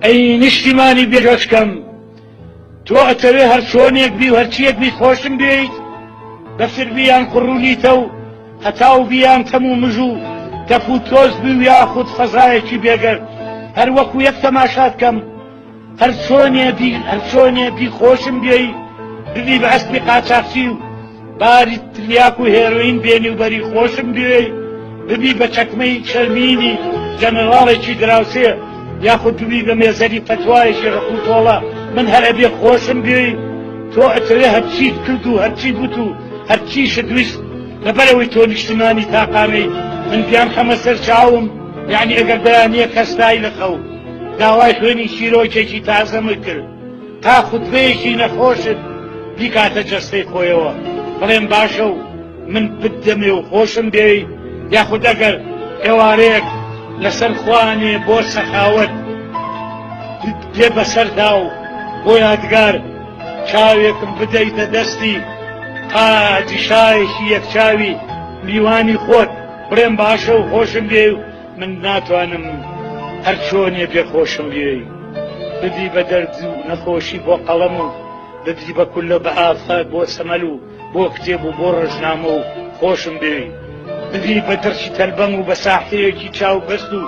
ئەی نیشتیمانی بێگەچکەم تۆ ئەتەوێ هەر چۆنێک بی و هەرچیەک بی خۆشم بێیت بەسر بیان قڕوونیتە و هەتاو بیان تەم و مژ و تەپ و تۆز بوو یاخود فەزایەکی بێگەر هەر وەکو یەک تەماشات کەم هەرچۆنێ بی هەرچۆنێ بی خۆشم بێی ببی بە ئەسپی قاچاقچی و باری تلیاک و هێروین بێنی و بەری خۆشم بێی ببی بە چەکمەی چەرمینی جەنەراڵێکی دراوسێ یاخود ببی بە مێزەری پەتوایەکی ڕقوتۆڵە من هەرە بێ خۆشم بێی تۆ ئەتەوێ هەرچیت کرد و هەرچی گوت و هەرچی شدویست لەبەرەوەی تۆ نیشتمانی تاقانەی من بیان خەمە سەر چاوم یعنی ئەگەر بەیانە کەستایی لە خەوم داوای خوێنی چیرۆکێکی تازەمە کرد تا خوتبەیەکی نەخۆشت بیکاتە جەستەی خۆیەوە بڵێم باشە و من پت دەمێ و خۆشم دێی یاخود ئەگەر ئێوارەیەک لەسەر خوانێ بۆ سەخاوت دێ بەسەردا و بۆ یادگار چاوێکم بدەیتە دەستی قاجی شایەکی یەکچاوی میوانی خۆت بڵێم باشە و خۆشم دێ و من ناتوانم هەر چۆنێ بێ خۆشم بوێی بدی بە دەرد و نەخۆشی بۆ قەڵەم و بدی بە کولە بە ئافات بۆ سەمەل و بۆ کتێب و بۆ ڕژنامە و خۆشم بێوی بدی بە دڕچی تەلبەم و بە ساحەیەکی چاو بەست و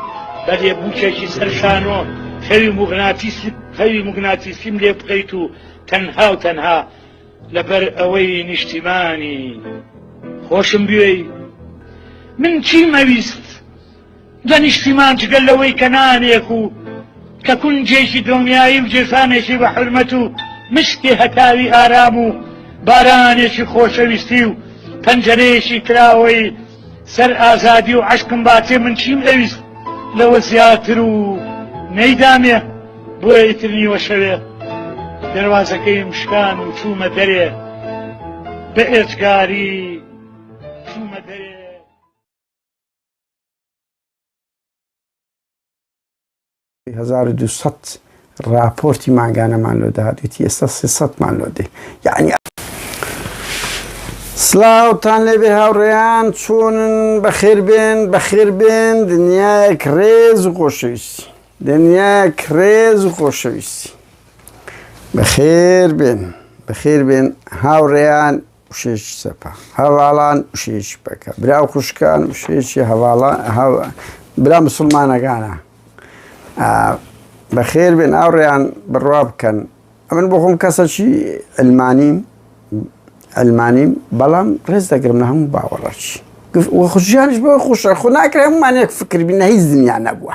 بە لێبووکێکی سەرشانۆ خەوی مغناتیسی خەوی مغناتیسیم لێ بکەیت و تەنها و تەنها لەبەر ئەوەی نیشتیمانی خۆشم بوێی من چیم ئەویست لە نیشتیمان جگەل لەوەی کە نانێک و کە کونجێکی دڵنیایی و جێسانێکی بە حرمەت و مشتێ هەتاوی ئارام و بارانێکی خۆشەویستی و پەنجەرەیەکی کراوەی سەر ئازادی و عەشقم باتێ من چیم ئەویست لەوە زیاتر و نەیدامێ بۆیە ئیتر نیوە شەوێ دەروازەکەیم شکان و چوومە دەرێ بە ئێجگاری چوومە دەرێ هەزار و دوو سەد ڕاپۆرتی مانگانەمان لۆ دادێتی ئێستا سێ سەدمان لۆ دێ یعنی سلااوتان لێبێ هاوڕێیان چۆنن بەخێربێن بەخێربێن دنیایەک ڕێز و خۆشەویستی دنیایەک ڕێز و خۆشەویستی بەخێربێن بەخێربێن هاوڕێیان وشەیەکی چەپە هەڤاڵان وشەیەکی پەکە برا و خوشکان وشەیەکی هەڤاڵان برا مسلمانەکانە بەخێر بێن ئاوڕێیان بڕوا بکەن ئەمن بۆ خۆم کەسەکی ئەلمانیم ئەلمانیم بەڵام ڕێز دەگرم لە هەموو باوەڕەکی خوشیانش بۆ خوشە خو ناکرێ هەمومان یەک فکربی نە هیچ دنیا نەبووە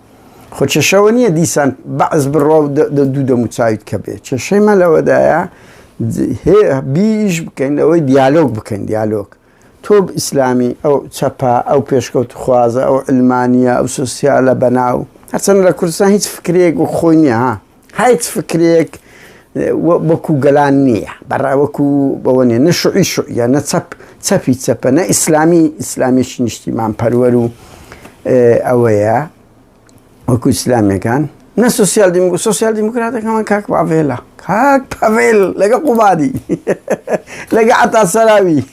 خۆ کێشەوە نییە دیسان بەعس بڕوا و دوو دەموچاویت کە بێ کێشەی مە لەوەدایە بیش بکەین لەوەی دیالۆگ بکەین دیالۆگ تۆ ئیسلامی ئەو چەپا ئەو پێشکەوت خوازە ئەو علمانە ئەو سوسیالە بەناو هەرچەند لە کوردستان هیچ فکرێک و خۆی نیە هیچ فکرێک وەکو گەلان نییە بەڕا وەکو بەوە نیە نە شوعی شوعە نە چەپ چەپی چەپە نە ئیسلامی ئیسلامیشی نیشتیمان پەروەر و ئەوەیە وەکو ئیسلامەکان نە سوسیال دیمو سوسیال دیموکراتەکەمان کاک باڤێلە کاک پەڤێل لەگە قوبادی لەگە عتا سەراوی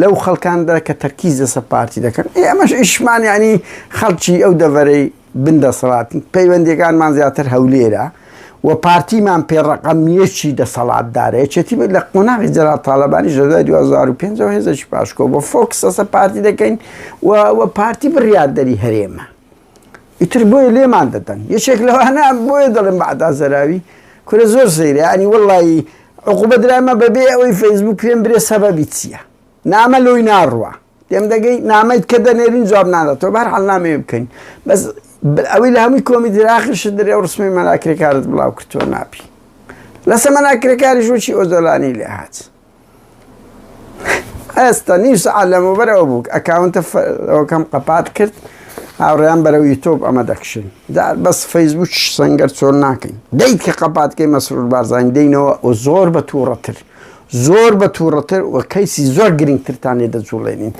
لەو خەڵکاندا کە تەرکیز لەسەر پارتی دەکەن، ئێ ئەمەش ئیشمان یانی خەڵکی ئەو دەڤەرەی بن دەسەڵاتن، پەیوەندیەکانمان زیاتر هەولێرە و پارتیمان پێ ڕەقەم یەکی دەسەڵاتدارە، یەکێتی بێت لە قۆناغی جەلال تاڵەبانیش لە دوای دوو هەزار و پێنج ەوە هێزێکی پاشکۆبووە، فۆکس لەسەر پارتی دەکەین و پارتی بڕیاردەری هەرێمە. ئیتر بۆیە لێمان دەدەن یەکێک لەوانە بۆیە دەڵێم بەعدا زەراوی کورە زۆر سەیرە یانی وەڵڵایی عقوبە درایمە بەبێ ئەوەی فەیسبووک پێم برێ سەبەبی چییە نامە لۆی ناڕوا تێم دەگەی نامەیت کە دەنێرین جواب ناداتەوە بەر حەڵ نامەیە بکەین بەس ئەوی لە هەمووی کۆمی دراخش دەرێ ئەو ڕسمی مەلاکرێکارت بڵاو کردووە ناپی لەسە مەلاکرێکاریش وچی ئۆزۆلانی لێ هاات ئێستا نیو سەعات لەمەوبەر ئەو بوو ئەکاونتە ئەوکەم قەپات کرد هاوڕێیان بەرەو یوتۆب ئەمە دەکشن دا بەس فەیسبوک سنگەر چۆن ناکەین دەیت کە قەپاتکەی مەسرور بارزان دەینەوە و زۆر بە تووڕەتر زۆر بە تووڕەتر و کەیسی زۆر گرنگترتان لێ دەجوڵێنین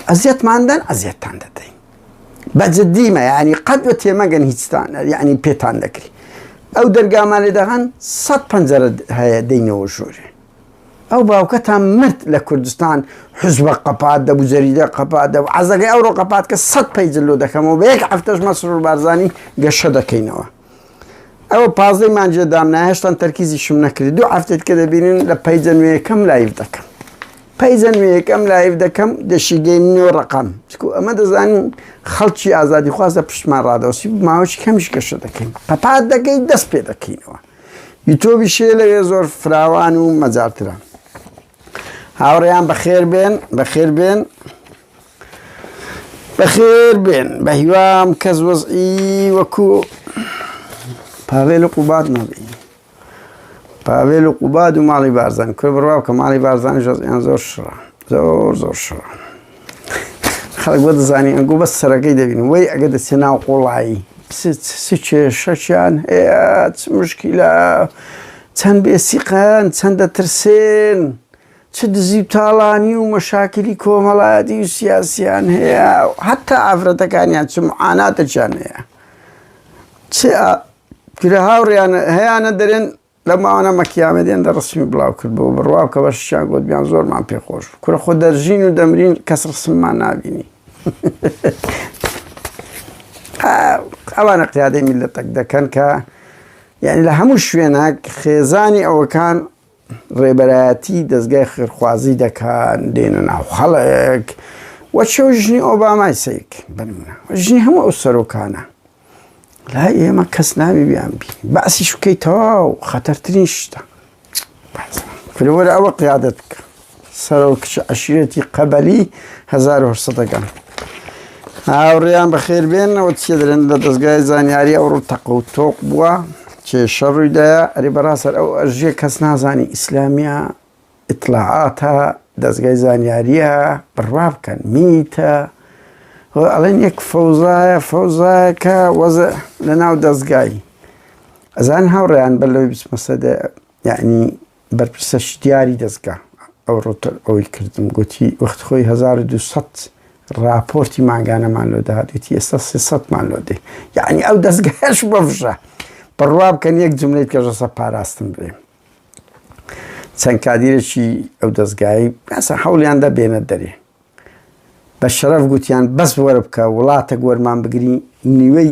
ئەزیەتماندەن ئەزیەتتان دەدەین بە جدیمە یعنی قەت بە تێمەگەن هیچتان یعنی پێتان دەکری ئەو دەرگامان لێ دەغەن سەد پەنجەرە هەیە دەینەوە ژوورێ ئەو باوکەتان مرد لە کوردستان حزبە قەپات دەبوو جەریدە قەپات دەبوو عزەکەی ئەوڕۆ قەپات کە سەد پەیجللو دەکەمەوە بە یەک هەفتەش مەسرور بارزانانی گەشە دەکەینەوە ئەوە پازدەی مانجێ دامنا هێشتان تەرکیزیشم نەکرد دوو هەفتێت کە دەبینن لە پەیجە نوێیەکەم لایف دەکەم پەیجە نوێیەکەم لایف دەکەم دەشیگەی نۆ ڕقم چکو ئەمە دەزانین خەڵکی ئازادی خوازە پشتمان ڕادەوسی ماوەش کەمیش گەشە دەکەین قەپات دەکەی دەست پێ دەکەینەوە یوتۆبی شێ لەوێ زۆر فراوان و مەجارتران هاوڕێیان بەخێر بێن بەخێر بێن بەخێر بێن بەهیوام کەس وەزئی وەکو پاوێل و قوبات نەبی پاوێل و قوباد و ماڵی بارزان کوێ بڕاو کە ماڵی بارزانانی ژەزیان زۆر شڕە زۆر زۆر شڕە خەڵک بۆ دەزانانی ئەنگۆ بەس سەرەکەی دەبین وی ئەگە دەچێ ناو قوڵایی کێشەچیان هەیە مشکیلا چەند بێسیقان چەندە ترسێن چ دزی و تاڵانی و مەشاکلی کۆمەڵایەتی و سیاسیان هەیە حتا ئافرەتەکانیان چ معاناتەکیان هەیە چ کرە هاوڕیان هەیەە دەرێن لە ماوانە مەکیامە دێن دە ڕسمی بڵاو کرد بۆ بڕواو کە بەشیان گوت بیان زۆرمان پێخۆش کورە خۆ دەرژین و دەمرین کەس ڕسممان نبینی ئەوانە قیادەی میلەتەک دەکەن کە یعنی لە هەموو شوێنەک خێزانی ئەوەکان ڕێبەرایەتی دەزگای خێرخوازی دەکەن دێنە ناو خەڵک وەچەو ژنی ئۆبامای سەیرکە بنمونە ژنی هەموو ئەو سەرۆکانە لا ئێمە کەس ناوی بیان بی باسی شکەی تەواو خەتەرترین شتە فرەوەرە ئەوە قیادەت بکە سەرۆک کچ عەشیرەتی قەبەلی هەزار و هەشت سەد ەکان هاوڕێیان بەخێر بێنەوە چیە دەرێن لە دەستگای زانیاری ئەوڕۆ تەق و تۆق بووە کێشە ڕوویدایە ئەری بەڕاستەر ئەو ئەژێ کەس نازانی ئیسلامیە ئیتلاعاتە دەستگای زانیاریە بڕوا بکەن میتە ئەڵێن یەک فەوزایە فەوزایەکە وەزە لە ناو دەستگای ئەزان هاوڕێیان بەر لەوەی بچمەسەدە یعنی بەرپرسە شتیاری دەزگا ئەوڕۆ ئەوەی کردم گوتی وەخت خۆی 1200 راپۆرتی مانگانەمان لۆ دەهات گوتی ئێستا 300 مان لۆ دێ یعنی ئەو دەستگەش بەفژە بڕوا بکەن یەک جملەی کەژەسە پاراستم بێ چەند کادیرێکی ئەو دەستگایی ئەسە حولیان دەبێنە دەرێ بە شەرەف گوتیان بەس وەرە بکە وڵاتە گۆرمان بگری نیوەی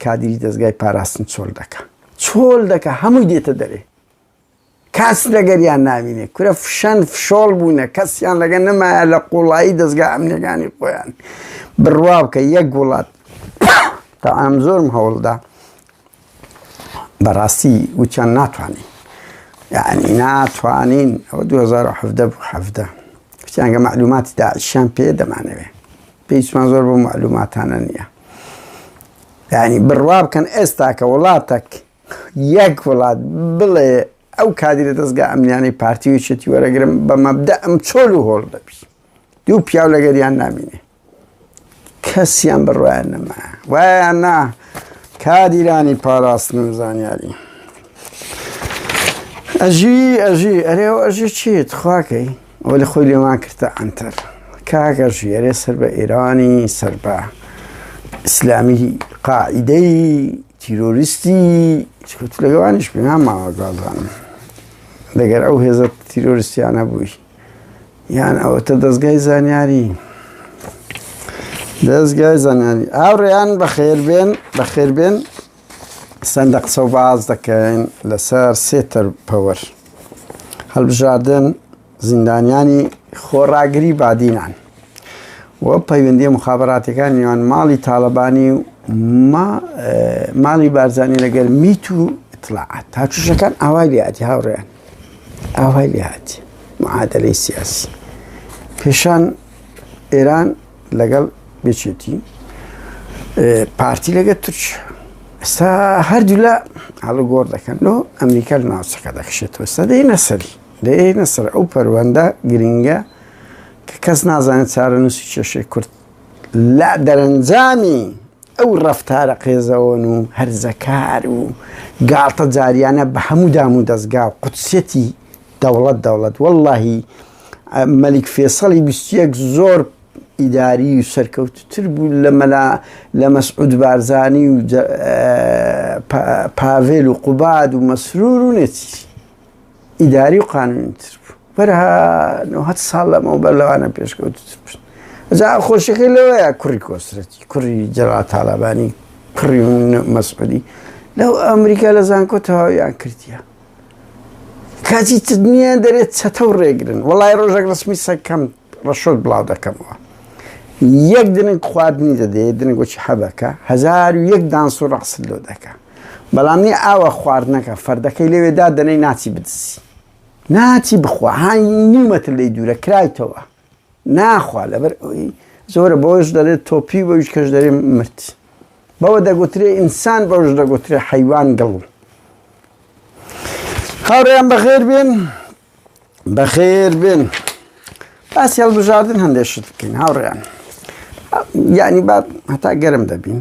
کادیری دەستگای پاراستن چۆل دەکە چۆل دەکە هەمووی دێتە دەرێ کەس لەگەریان نابینێ کورە فشەن فشۆڵ بوونە کەسیان لەگە نەمایە لە قوڵایی دەستگا ئەمنیەکانی خۆیان بڕوا بکە یەک وڵات تا ئەم زۆرم هەوڵدا بەڕاستی وچەند ناتوانین یعنی ناتوانین ئەوە 2017 کچیانگە معلوماتی داعشیان پێ دەمانەوێ پێیسمان زۆر بۆ معلوماتانە نییە یعنی بڕوا بکەن ئێستا کە وڵاتەک یەک وڵات بڵێ ئەو کادیرە دەزگا ئەمنیانەی پارتی و یەکێتی وەرەگرم بە مەبدە ئەم چۆل و هۆڵ دەبی دوو پیاو لەگەریان نامینێ کەسیان بڕوایان نەما وایان نا کادیرانی پاراستن و زانیاری ئەژی ئەژی ئەرێ ئەژی چیت خواکەی وەلی خۆی لێمان کردە عەنتەر کاکە ژێرێ سەر بە ئێرانی سەر بە ئیسلامی قاعدەی تیرۆریستی چکوت لەگەوانیش پێنام ماوە گازانم دەگەر ئەو هێزە تیرۆریستیانە بووی یان ئەوەتە دەستگای زانیاری دەستگای زانیاری ئاوڕێیان بەخێربێن بەخێربێن چەندە قسە و باس دەکەین لەسەر سێ تەرپەوەر هەڵبژاردن زیندانیانی خۆڕاگری بادینان و پەیوەندی مخابراتەکان نیوان ماڵی تاالبانی و ماڵی بارزانانی لەگەر میت و اطلاعات تاچوشەکان ئاوای لێاتی هاوڕێیان ئاوای لێاتی معادلەی سیاسی پێشان ئێران لەگەڵ بچێتی پارتی لەگە تورک ئستا هەردوو لە هەڵە گۆڕ دەکەن لۆ ئەمریکا لە ناوچەکە دەخشێتەوە ستا دەی نەسەری دەێ نەسەر ئەو پەروەندە گرنگە کە کەس نازانێت چارە نووسی کێشەی کورد لە دەرەنجامی ئەو ڕفتارە قێزەوەن و هەرزەکار و گاڵتە جاریانە بە هەموو دام و دەستگا و قوتسەتی دەوڵەت دەوڵەت واللهی مەلیک فێسەڵی بیست یەک زۆر ئیداری و سەرکەوتتر بوو لە مەلا لە مەسعود بارزانی و پاڤێل و قوباد و مەسرور و نێتی ئیداری و قانونتر بوو بەرها نهت ساڵ لەمەوە بەر لەوانە پێشکەوتتر بوو جا خۆشەکەی لەوەیە کوڕی کۆسرەتی کوڕی جەڵا تاالبانی کوڕی مەسعودی لەو ئەمریکا لە زانکۆ تەواویان کردیە کاتی تدنیە دەرێت چەتە و ڕێگرن وڵای ڕۆژێک ڕسمی سەکەم ڕەشۆت بڵاو دەکەمەوە یەک دنگ خواردنی دەدێ دنگۆکی حەبەکە هزار و یەک دانس و ڕقست لۆ دەکە بەڵام نی ئاوە خواردنەکە فەردەکەی لەوێدا دەنەی ناچی بدزی ناچی بخوا هاانی نیومەتر لی دوورە کرایتەوە ناخوا لەبەر ئەوەی زۆرە بۆش دەلێت تۆپی بۆیش کەش دەێ مرد بەوە دەگوترێ ئینسان بەوش دەگوترێ حیوان گڵ هاوڕێیان بەخێر بێن بەخێر بێن باسی هەڵبژاردن هەندێک شت بکەین هاوڕێیان یعنی با هەتا گەرم دەبین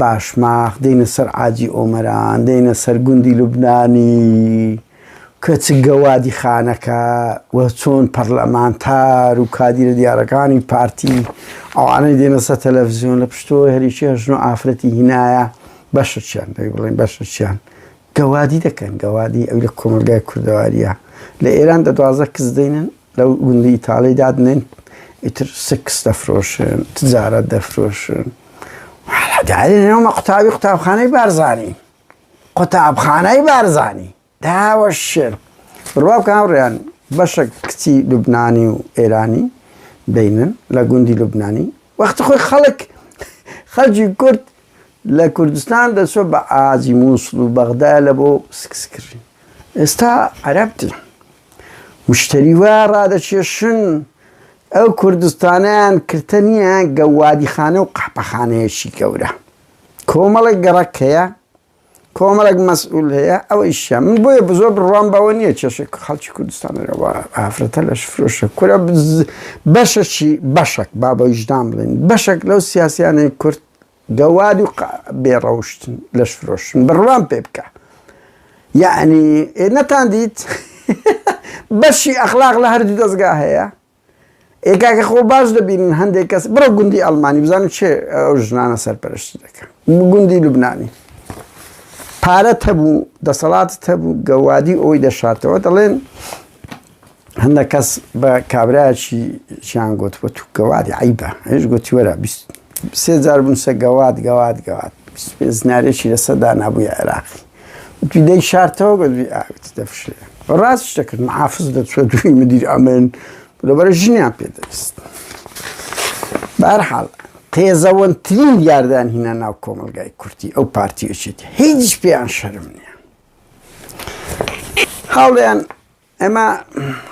باشماخ، دێینە سەر عاجی ئۆمەران، دێینە سەر گوندی لوبنانی، کە چ گەوادی خانەکە و چۆن پەڕلەمانتار و کادیرە دیارەکانی پارتی، ئەوانەی دێنە سەر تەلەفزیۆن، لە پشتەوەی هەریچی هەژن و ئافرەتی هینایە، بەشرچیان دەی بڵێین، بەشرچیان گەوادی دەکەن گەوادی ئەو لە کۆمەلگای کوردەواریە لە ئێران دە دوازە کز دێنن لەو گوندی ئیتاڵی دادنێن ئیتر سکس دەفرۆشن تجارەت دەفرۆشن داێنەوەمە قوتابی قوتابخانەی بارزانانی قوتابخانەی بارزانانی داوە شێر ڕوا کاڕیان بەشە کچی لوبنانی و ئێرانی دەینن لە گوندی لوبنانی وەختی خۆی خەڵک خەلجی کورد لە کوردستان دەچوە بە ئازی موسڵ و بەغدا لە بۆ سکس کردن ئێستا عەرەب دێ مشتری وا ڕادەکێشن ئەو کوردستانیان کرتە نییە گەوادیخانە و قەحپەخانەیەکی گەورە کۆمەڵێک گەڕەک هەیە کۆمەڵێک مەسئول هەیە ئەوەیشە من بۆیە بزۆر بڕوام بەوە نییە کێشێک خەڵکی کوردستان رەوا ئافرەتە لەش فرۆشە کورە بەشەکی بەشەک با بەویژدان بڵێن بەشەک لەو سیاسیانەی کورد گەواد و بێڕەوشتن لەش فرۆشن بڕوام پێ بکە یعنی نەتان دیت بەشی ئەخلاق لە هەردوو دەستگا هەیە ئێ کاکە خۆ باش دەبینن هەندێک کەس بڕۆ گوندی ئەڵمانی بزانم چێ ئەو ژنانە سەرپەرشتی دەکەن گوندی لوبنانی پارەت هەبوو دەسەڵاتت هەبوو گەوادی ئەوی دەشاتەوە دەڵێن هەندە کەس بە کابراچی چیان گوتوە تو گەوادی عیبە هێش گوتی وەرە سێ جار بنووسە گەواد گەواد گەواد زنارێکی لەسەدا نابووە عێراقی وتی دەی شارتەوە بە دوی ئاوت دەفشێ ڕاست شتەکرد محافز دەچوە دوی مدیر ئەمن لەبەرە ژنیان پێ دەست بارحاڵ قێزەوەنترین یاردان هینا ناو کۆمەلگای کورتی ئەو پارتیەچێت هیچ پێیان شەرم نیە هاوڵیان ئێمە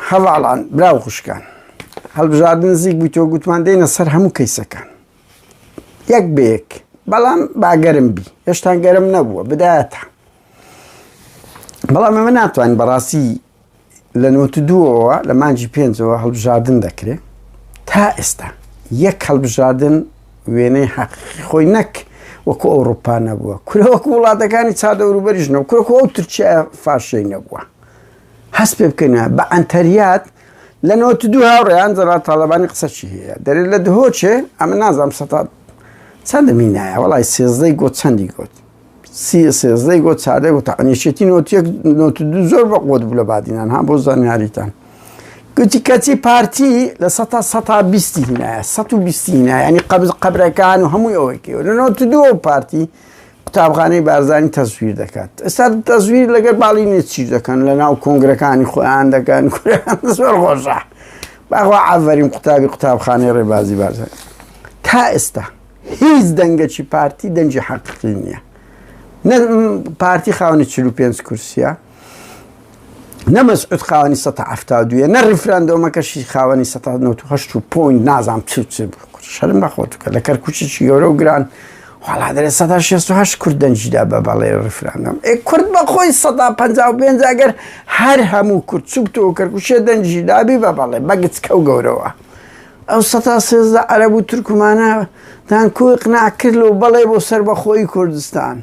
هەڤاڵان، برا و خوشکان، هەڵبژاردن نزیک بوویتەوە گوتمان دێینە سەر هەموو کەیسەکان یەک بە یەک، بەڵام با گەرم بی، هێشتان گەرم نەبووە بدایەتە. بەڵام ئێمە ناتوانین بەڕاستی لە نۆت دووەوە لە مانجی پێنجەوە هەڵبژاردن دەکرێت تا ئێستا یەک هەڵبژاردن وێنەی حەقی خۆی نەک وەکو ئەوروپا نەبووە کورە وەکو وڵاتەکانی چا دەوروبەریش نەوە کورە ئەو ترکیە فاشەی نەبووە هەست پێ بکەین بە ئەنتەریات لە نەوەت و دوو هاوڕێیان جەنرال تاڵەبانی قسەچی هەیە دەرێت لە دهۆچێ ئەمە نازانم سەتا چەندە مینایە وڵی سێزدەی گۆ چەندی گوت سی سێزدەی گۆ چاردە گوت ئەنیشێتی نۆتیەک نۆت و دوو زۆر بە قوت بوو لە بادینان ها بۆ زانیاریتان گوتی کەچی پارتی لە سەتا سەتا بیستی هینایە سە و بیستی هینایە ینی قەبز قەبرەکان و هەمووی ئەوەی کێوە لە نۆت و دووە پارتی قوتابخانەی بارزانی تەزویر دەکات ئێستا تەزویر لەگەر باڵی نێچی دەکەن لە ناو کۆنگرەکانی خۆیان دەکەن زۆر خۆشە باخوا ئاڤەرین قوتابی قوتابخانەی ڕێبازی بارزان تا ئێستا هیچ دەنگەکی پارتی دەنجی حەقی نییە پارتی خاونی چ پێنج کورسە نە مەسعود خاوەنی 1970 یە نە ڕیفراندۆمەکەشی خاوەنی 1970 و پۆین نازانام چ چ شەرم بەخۆتوکە لە کەرکوچێکی گەورە و گران وڵا دەێت 1960 کورد دەنجیدا بە بەڵێ ڕیفراندۆم ئێ کورد بەخۆی 1950 ئەگەر هەر هەموو کورد چوبتەوە کەرکوچێ دەنجی دابی بە بەڵێ بەگچکە و گەورەوە ئەو 1970 عەرب و تورکمانە تان کوی قناکرد و بەڵێ بۆ سەر بەخۆی کوردستان.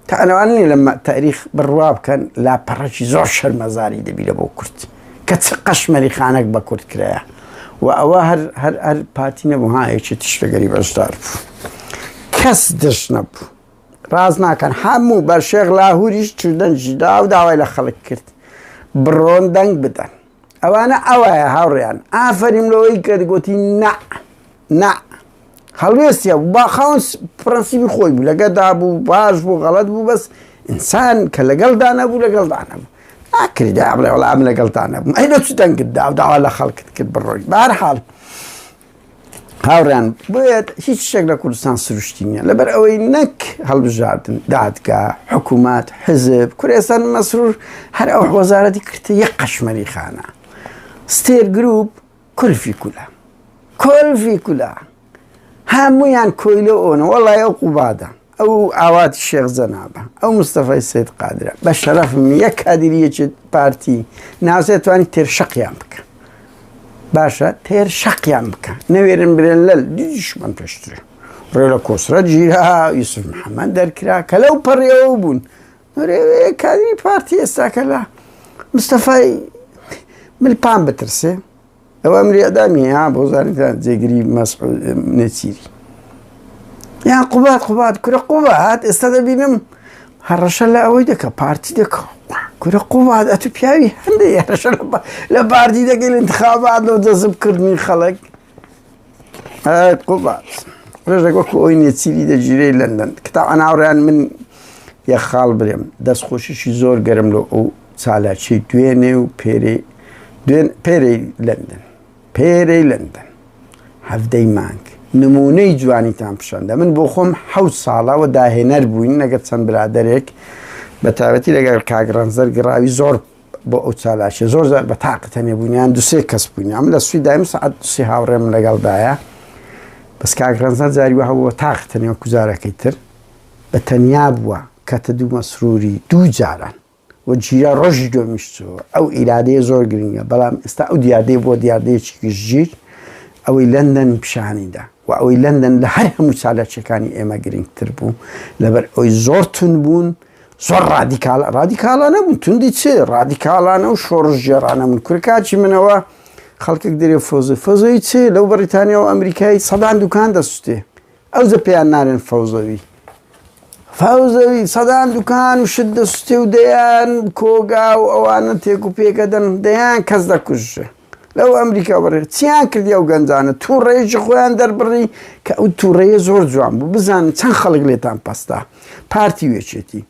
تانەوان نیە لە تاریخ بڕوا بکەن لاپەڕەکی زۆر شەرمەزاری دەبیرە بۆ کورد کە چ قەشمەری خانەک بە کورد کرایە و ئەوە هەر هەر هەر پاتی نەبوو ها یەکی تشتەگەری بەشدار بوو کەس دەش نەبوو ڕاز ناکەن هەموو بە شێغ لاهوریش چردەنجی دا و داوای لە خەڵک کرد بڕۆن دەنگ بدەن ئەوانە ئەوایە هاوڕێیان ئافرین لەوەی کە گوتی نە نە هەڵوێستە با خاون پرەنسیبی خۆی بوو لەگەدا بوو باش بوو غەڵت بوو بەس ئینسان کە لەگەڵدا نەبوو لەگەڵدا نەبوو ناکردا بڵێ وڵام لەگەڵدا نەبوو ئەی لە چ دەنگت دا داوا لە خەڵکت کرد بڕۆی بارحاڵ هاوڕێیان بۆیەت هیچ شتێک لە کوردستان سروشتی نییە لەبەر ئەوەی نەک هەڵبژاردن دادگا حکوومەت حزب کورێستان مەسرور هەر ئەو وەزارەتی کردە یەک قەشمەری خانە ستێر گروپ کولفی کولا کولفی کولا هەمویان کۆیلە ئۆنە وەڵای ئەو قوبادە ئەو ئاوات شێخ جەنابە، ئەو مستەفای سەید قادرە، بە شەرەفم یەک کادیری یەکێ پارتی ناسێ توانی تێر شەقیان بکە. باشە تێر شەقیان بکە. نەوێرن برێن لەل دیشمان پێشترێ. ڕێ لە کۆسرە جیرا یوسف محەممەد دەرکرا کە لەو پەڕیەوە بوون. کادری پارتی ئێستاکە لە مستەفای ملپان بترسێ. ئەوە ئەمری ئەدامی ها بۆ زانیتان جێگری مەسعود نێچیری یان قوبات قوبات کورە قوبات ئێستا دەبینم هەڕەشە لە ئەوەی دەکە پارتی دەکە کورە قوبات ئەتو پیاوی هەندێک هەڕەشە لە باردی دەگەل انتخابات لەو جەزبکردنی خەڵک قوبات ڕێژێک وەکو ئەوی نێچیری دەگیرەی لەندەن کتا ئەناوڕیان من یە خاڵ برێم دەست خۆشیشی زۆر گەرم لۆ ئەو چالاکی دوێنێ و پێرێی دوێن پێرێی لەندەن پێرێی لەندەن هەفتەی مانگ نمونەی جوانیتان پیشاندە من بۆ خۆم حەوت ساڵەوە داهێنەر بووین لەگەر چەند برادێک بە تاوەتی لەگەر کاگڕەنزەر گڕاوی زۆر بۆ ئەو چالاکە زۆر زار بە تاقتەنێ بوونیان دوسێ کەس بووین ئەم لە سوی دایم سعات دوسی هاوڕێم لەگەڵدایە بەس کاگڕەنزەر جاری وە هەبووە تاقتەنێ و کوزارەکەی تر بە تەنیا بووە کەتە دوو مەسروری دوو جاران و جیرە ڕۆژی دومیش چووە ئەو ئیرادەیە زۆر گرنگە بەڵام ئێستا ئەو دیاردەیە بۆ دیاردەیەکی گشتگیر ئەوەی لەندەن پیشانیدا و ئەوەی لەندەن لە هەر هەموو چالاکیەکانی ئێمە گرنگتر بوو لەبەر ئەوی زۆر تون بوون زۆر ڕادیکال ڕادیکالانە بوون توندی چ ڕادیکالانە و شۆڕژێرانە من کورکاچی منەوە خەڵکێک دەرێ فۆزی فۆزەی چ لەو بەریتانیا و ئەمریکای سەدان دوکان دەسوتێ ئەوجە پێیان نالێن فەوزەوی فەوزەوی سەدان دوکان و شت دەسوتێ و دەیان کۆگا و ئەوانە تێک و پێکە دەن دەیان کەس دەکوژێ لەو ئەمریکا بڕێ چیان کردی ئەو گەنجانە تووڕێژی خۆیان دەربڕی کە ئەو تووڕەیە زۆر جوان بوو بزانن چەند خەڵک لێتان پەستا پارتی وێچێتی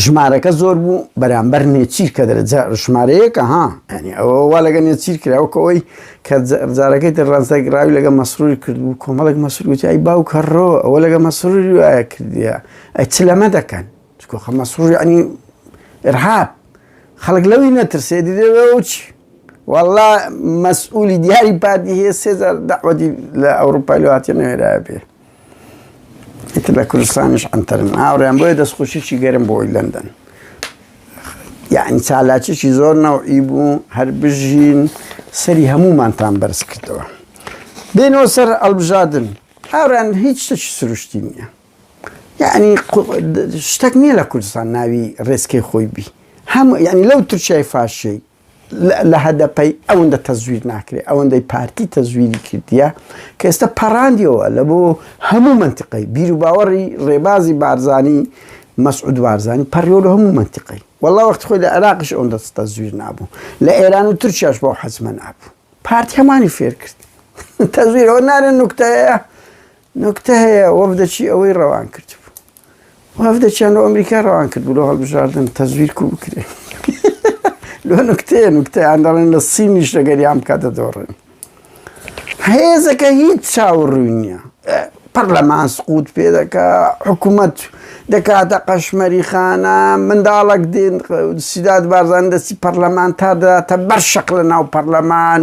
ژمارەکە زۆر بوو بەرامبەر نێچیر کە دەرەجە ژمارەیەکە ها ینی ئەوە وا لەگە نێچیر کراوەکەەوەی کە جارەکەی تر ڕازدەگراوی لەگە مەسروری کردبوو کۆمەڵک مەسروتیایی باو کەڕۆ ئەوە لەگە مەسروری وایە کردە ئەی چ لەمە دەکەن چکۆخە مەسروری ئەنی ئرهاب خەڵک لەوی نەترسێ دیدەوەچ والله مەسئولی دیاری پارتی هەیە سێزار داوەتی لە ئەوروپای لەهاتە نوێرا بێ ئیتر لە کوردستانیش عەنتەرن هاوڕێیان بۆیە دەستخۆشیی گەرم بۆی لەندەن یعنی چالاکیی زۆر نەوعی بوو هەر بژین سەری هەموومانتان بەرز کردەوە بێنەوە سەر ئەلبژادن هاوران هیچ شتێکی سروشتی نییە یعنی شتێک نییە لە کوردستان ناوی ڕێسکەی خۆی بی هەموو یعنی لەو ترچای فاشەی لە هەدەپەی ئەوەندە تەزویر ناکرێت ئەوەندەی پارتی تەزویری کردیە کە ئێستا پەڕاندیەوە لە بۆ هەموو منتیقی بیر و باوەڕی ڕێبازی بارزانی مەسعود بارزانی پەڕیۆ لە هەموو منتیقی والله وەخت خۆی لە عێراقش ئەوەن دەست تەزویر نابوو لە ئێران و تورکیاش بۆ حەزمە نابوو پارتی هەمانی فێر کرد تەزویرەوە نارە نوکتەیە نوکتە هەیە وەفدەچی ئەوەی ڕەوان کردبوو وەفدەچیان لە ئەمریکا ڕەوان کرد بوو لە هەڵبژاردن تەزویر کو بکرێ لۆ نوکتەیە نوکتەیان دەڵێن لە سینیش لەگەریان بکە دەدۆڕن هێزەکە هیچ چاوڕووی نییە پەرلەمان سقوت پێ دەکە حکوومەت دەکاتە قەشمەری خانە منداڵک دێن سیداد بارزان دەستی پەرلەمان تا دەاتە بەر شەق لە ناو پەرلەمان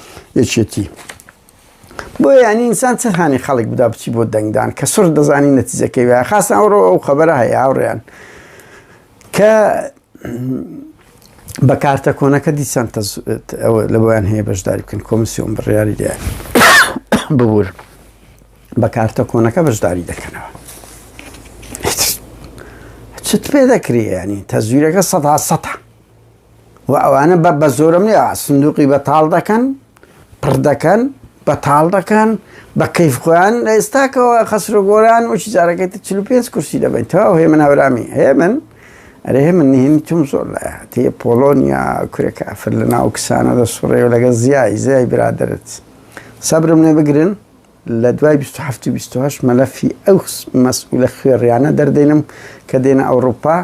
یەکێتی بۆ یانی ئینسان چ هاانی خەڵک بدا بچی بۆ دەنگدان کە سڕ دەزانی نەتیزەکەی وایە خاستە ئەوڕۆ ئەو خەبەرە هەیە هاوڕێیان کە بە کارتە کۆنەکە دیسان لە بۆیان هەیە بەشداری بکەن کۆمسیۆن بڕیاری لێ ببوور بە کارتە کۆنەکە بەشداری دەکەنەوە چت پێ دەکرێ ینی تەزویرەکە سەدا سەە و ئەوانە بە بەزۆرم لێ سندوقی بەتاڵ دەکەن پڕ دەکەن بەتاڵ دەکەن بە کەیف خۆیان لە ئێستاکەەوە خەسرۆ گۆران وچی جارەکەی 45 کورسی دەبین تا هێ من هاورامی هێ من ئەرێ هێ من نهێنی توم زۆر لە تێ پۆلۆنیا کورێکە ئەفر لە ناو کسانە دە سوڕێ و لەگە زیای زیای برادرت سەبرم لێ بگرن لە دوای 1970 مەلەفی ئەو مەسئولە خوێڕیانە دەردێنم کە دێنە ئەوروپا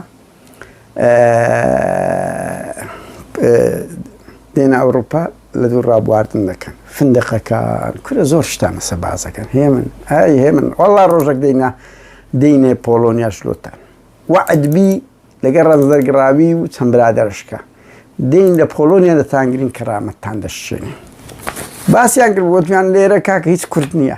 دێنە ئەوروپا لە دوور ڕابواردن دەکەن فندقەکان کورە زۆر شتانە سەبازەکەن هێمن ئای هێمن وەڵا ڕۆژەک دێنە دێنێ پۆلۆنیاش لۆتان وعدبی لەگەر ڕەنزەرگڕاوی و چەند برادرشکە دێن لە پۆلۆنیا دەتانگرین کەرامەتتان دەشێنێ باسیان کرد وتیان لێرە کاکە هیچ کورد نییە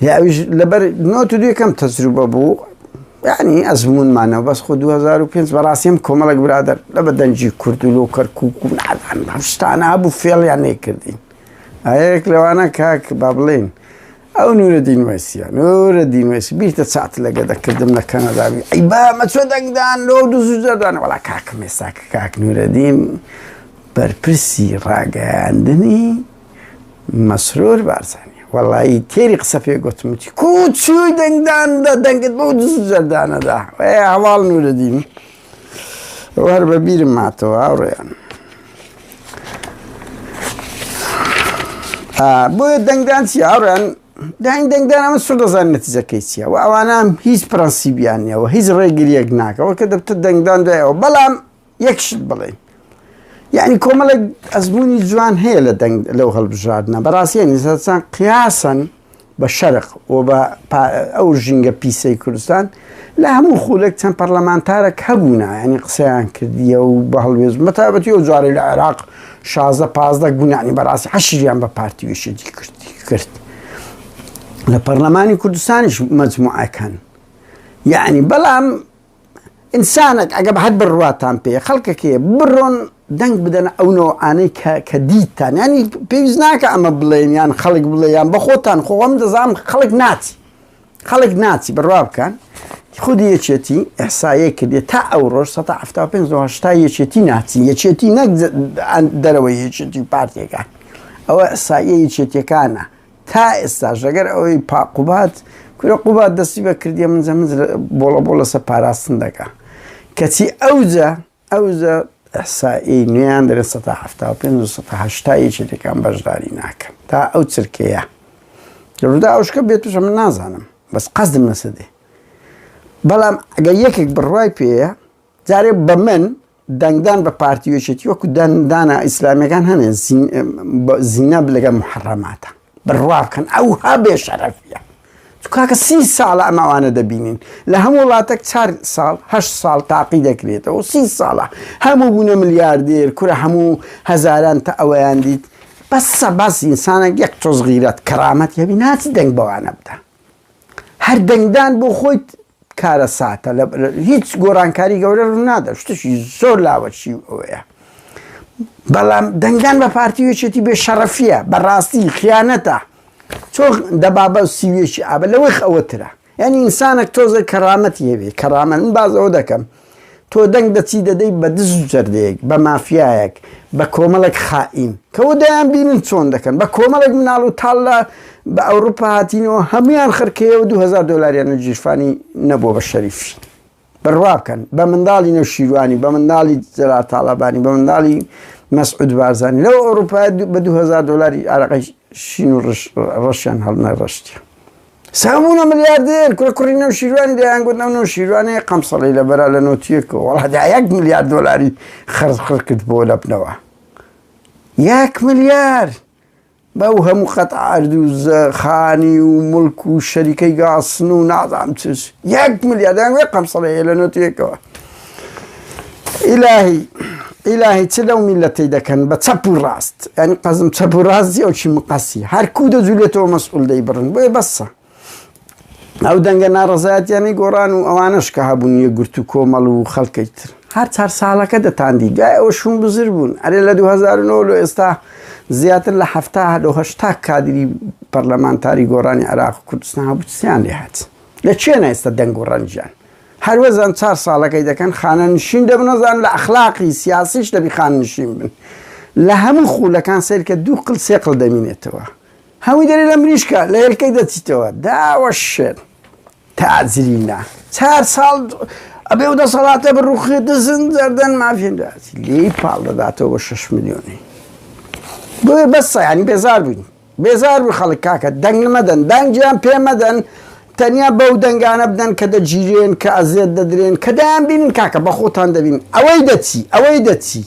هی ئەویش لەبەر نۆت و دوێ کەم تەجروبە بوو یعنی ئەزمونمانەوە بەس خۆ 2005 بەڕاستیم کۆمەڵک برادر لە بە دەنجی کورد و لۆ کەرکک و نادان هەشتانە هەبوو فێڵیان نەیکردین ئەیەک لەوانە کاک با بڵێن ئەو نورە دینوەسیە نورە دینوەسی بیرتە چات لەگە دەکردم لە کەنەداوی ئەی با مەچۆ دەنگدان لۆ دوزدان وڵا کاکم ێساکە کاک نورەدین بەرپرسی ڕاگەیاندنی مەسرور بارزانی وەڵایی تێری قسە پێ گوتم وتی کوچوی دەنگدان دە دەنگت بەو دز جەردانەدا هەواڵ نورەدین وەر بە بیرم ماتەوە ئاڕێیان بۆیە دەنگدان چی ئاڕێن داین دەنگدان ئەمە سوور دەزان نەتیزەکەی چیە و ئەوانە هیچ پرەنسیبیان نیەوە هیچ ڕێگریەک ناکەەوە کە دەبتە دەنگدان دایەوە بەڵام یەک شت بڵێین یعنی کۆمەڵێک ئەزمونی جوان هەیە لە دەنگ لەو هەڵبژاردنە بەڕاستیە نیزەسان قیاسەن بە شەرق و بە ئەو ژینگە پیسەی کوردستان لە هەموو خولێک چەند پەرلەمانتارە کە بوونا ینی قسەیان کردیە و بە هەڵوێز مەتابەتی و جارێ لە عێراق شازە پازدە گونانی بەڕاستی حەشیان بە پارتیویشی کردی کرد لە پەرلەمانی کوردستانیش مەجموعەکەن یعنی بەڵام ئینسانەک ئەگەر هەر بڕواتان پێیە خەڵکەک هەیە بڕۆن دەنگ بدەنە ئەو نەوعانەی کە دیتتان ینی پێویست ناکە ئەمە بڵێن یان خەڵک بڵێ یان بە خۆتان خۆم دەزانام خەڵک ناچی خەڵک ناچی بڕوا بکەن خودی یەکێتی ئەحسایە کردێ تا ئەو ڕۆژ 1970 یەکێتی ناچی یەکێتی نەک دەرەوەی یەکێتی پارتێکە ئەوە ئەساییە یەکێتیەکانە تا ئێستاش لەگەر ئەوەی پا قوباد کورە قوباد دەستی بە کردیە من جە من بۆڵە بۆ لەسە پاراستن دەکا کەچی ئەوجە ئەوجە ئەحسایی نوێیان دەێت 1970 یەکی لەکان بەشداری ناکەن تا ئەو چرکەیە لەڕوودا ئەوشکە بێتوشە من نازانم بەس قەزم نەسەدێ بەڵام ئەگەر یەکێک بڕوای پێەیە جارێ بە من دەنگدان بە پارتی وێشێتی وەکو دەنگدانە ئیسلامیەکان هەنێ زینا بلەگە محڕەماتە بڕوا بکەن ئەو ها بێ شەرەفە کاکە سی ساڵە ئەماوانە دەبینین لە هەموو وڵاتێک چار ساڵ هە ساڵ تاقی دەکرێتەوە سی ساڵە هەموو بوونە ملیاردێر کورە هەموو هەزاران تا ئەوەیان دیت بەسە باس ئینسانە یەک تۆز غیرەت کەرامەت هەبی ناچی دەنگ بەوانە بدە هەر دەنگدان بۆ خۆی کارەساتە لە هیچ گۆرانکاری گەورە ڕوونادا شتشی زۆر لاوەچی ئەوەیە بەڵام دەنگدان بە پارتی وێچێتی بێ شەڕەفیە بەڕاستی خیانەتە چۆ دەبابە و سیوێکی ئابە لەوەی ئەوەترە یعنی ئینسانێک تۆزە کەڕامەتی هەبێ کەڕامە من بازەوە دەکەم تۆ دەنگ دەچی دەدەی بە دز و جەردەیەک، بە مافیایەک، بە کۆمەڵێک خائین، کەوە دەیانبینن چۆن دەکەن، بە کۆمەڵێک مناڵ و تاڵ لە بە ئەوروپا هاتینەوە هەموویان خرکەیە و دوو هەزار دۆلاریان و گیرفانی نەبووە بە شەریفی بڕوا بکەن، بە منداڵی نەوشیروانی، بە منداڵی جەلال تاڵەبانی، بە منداڵی مەسعود بارزانی، لەو ئەوروپایە بە دوو هەزار دۆلاری ئارەقەی شین و ڕەشیان هەڵنەڕشتیە. ساو بوونە ملیاردێر. کورە کوڕی نەوشیروانی دەیان گوت ئەو نەوشیروانەیە قەمسەڵی لە بەرە لە نۆتیەکەوە وەڵا دا یەک ملیار دۆلاری خەرج خڕ کرد بۆ لەپنەوە یەک ملیار بەو هەموو قەت عرد و زە خانی و ملک و شەریکەی گاسن و نازام چش یەک ملیار دەیان گوت قەمسەڵەیە لە نۆتیەکەوە ئیلاهی ئیلاهی چ لەو میلەتەی دەکەن بە چەپ و ڕاست یعنی قەزم چەپ و ڕاست جی ئەوکی مقەسی هەر کوو دەجولێتەوە مەسئول دەیبڕن بۆیە بەسە ئەو دەنگە ناڕەزایەتیانی گۆڕان و ئەوانەش کە هەبوون یە گرت و کۆمەڵ و خەڵکەی تر هەر چار ساڵەکە دەتاندی دوای ئەوە شوون بزر بوون ئەرێ لە 2009 لە ئێستا زیاتر لە هەفتا لە هەشتا کادری پەرلەمانتاری گۆڕانی عێراق و کوردستان هەبوو چیان لێهات لە چێن ئێستا دەنگ و ڕەنجیان هەروەزان چار ساڵەکەی دەکەن خانە نشین دەبن وەزان لە ئەخلاقی سیاسیش دەبی خان نشین بن لە هەموو خولەکان سەیرکە دوو قل سێ قل دەمینێتەوە هەمووی دەری لە مریشکە لە هێلکەی دەچیتەوە داوە شێت تاجرینە چار ساڵ ئەبێ و دەسەڵاتە بڕوخێت دەزن زەردەن مافێنراتی لێی پاڵ دەداتەوە بە شش میلیۆنی بۆێ بەسە ینی بێزار بووین بێزار بوون خەڵک کاکە دەنگ مەدەن دەنگیان پێ مەدەن تەنیا بەو دەنگانە بدەن کە دەگیرێن کە ئەزێت دەدرێن کە دەیان بینن کاکە بە خۆتان دەبینن ئەوەی دەچی ئەوەی دەچی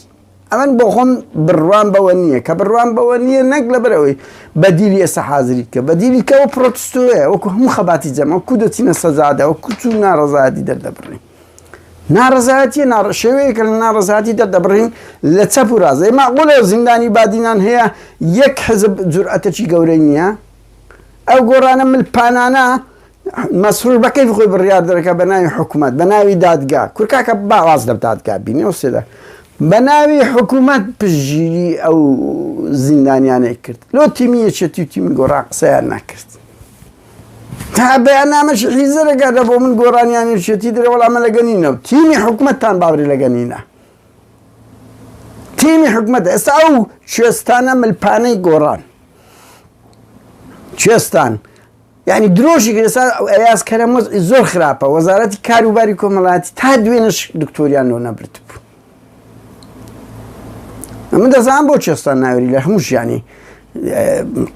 ئەمن بۆ خۆم بڕوام بەوە نییە کە بڕوام بەوە نییە نەک لەبەر ئەوەی بەدیلی ئێستا حازری کە بەدیلی کەەوە پرۆتستوەیە وەکو هەموو خەباتی جەمە کو دەچینە سەزادەوە کوچ و ناڕزادی دەردەبڕین ناڕەزایەتیە نا شێوەیەکە لە ناڕەزایەتی دەردەبڕین لە چەپ و ڕاست ئەی مەعقولە زیندانی بادینان هەیە یەک حزب جورئەتەکی گەورەی نییە ئەو گۆڕانە ملپانانە مەسرور بە کەیفی خۆی بڕیار دەرەکە بە ناوی حکوومەت بە ناوی دادگا کورد کاکە باواز لە دادگا بینێ و سێدا بە ناوی حکوومەت پژگیری ئەو زیندانیانەی کرد لۆ تیمی یەکێتی و تیمی گۆڕا قسەیان ناکرد تا بەیاننامەشی حیزە دەگاتە بۆ من گۆرانی یانێرچێتی درێ وەڵامە لە گەنینە و تیمی حکومەتتان باوری لە گەنینە تیمی حکومەت ئێستا ئەو کوێستانە ملپانەی گۆڕان کوێستان ینی درۆژی گرێسا ئەیاس کەرەمەز زۆر خراپە وەزارەتی کاروباری کۆمەڵاتی تا دوێنش دکتۆریان لۆ نەبرد بوو من دەزان بۆ چێستان ناوری لە هەموو ژیانی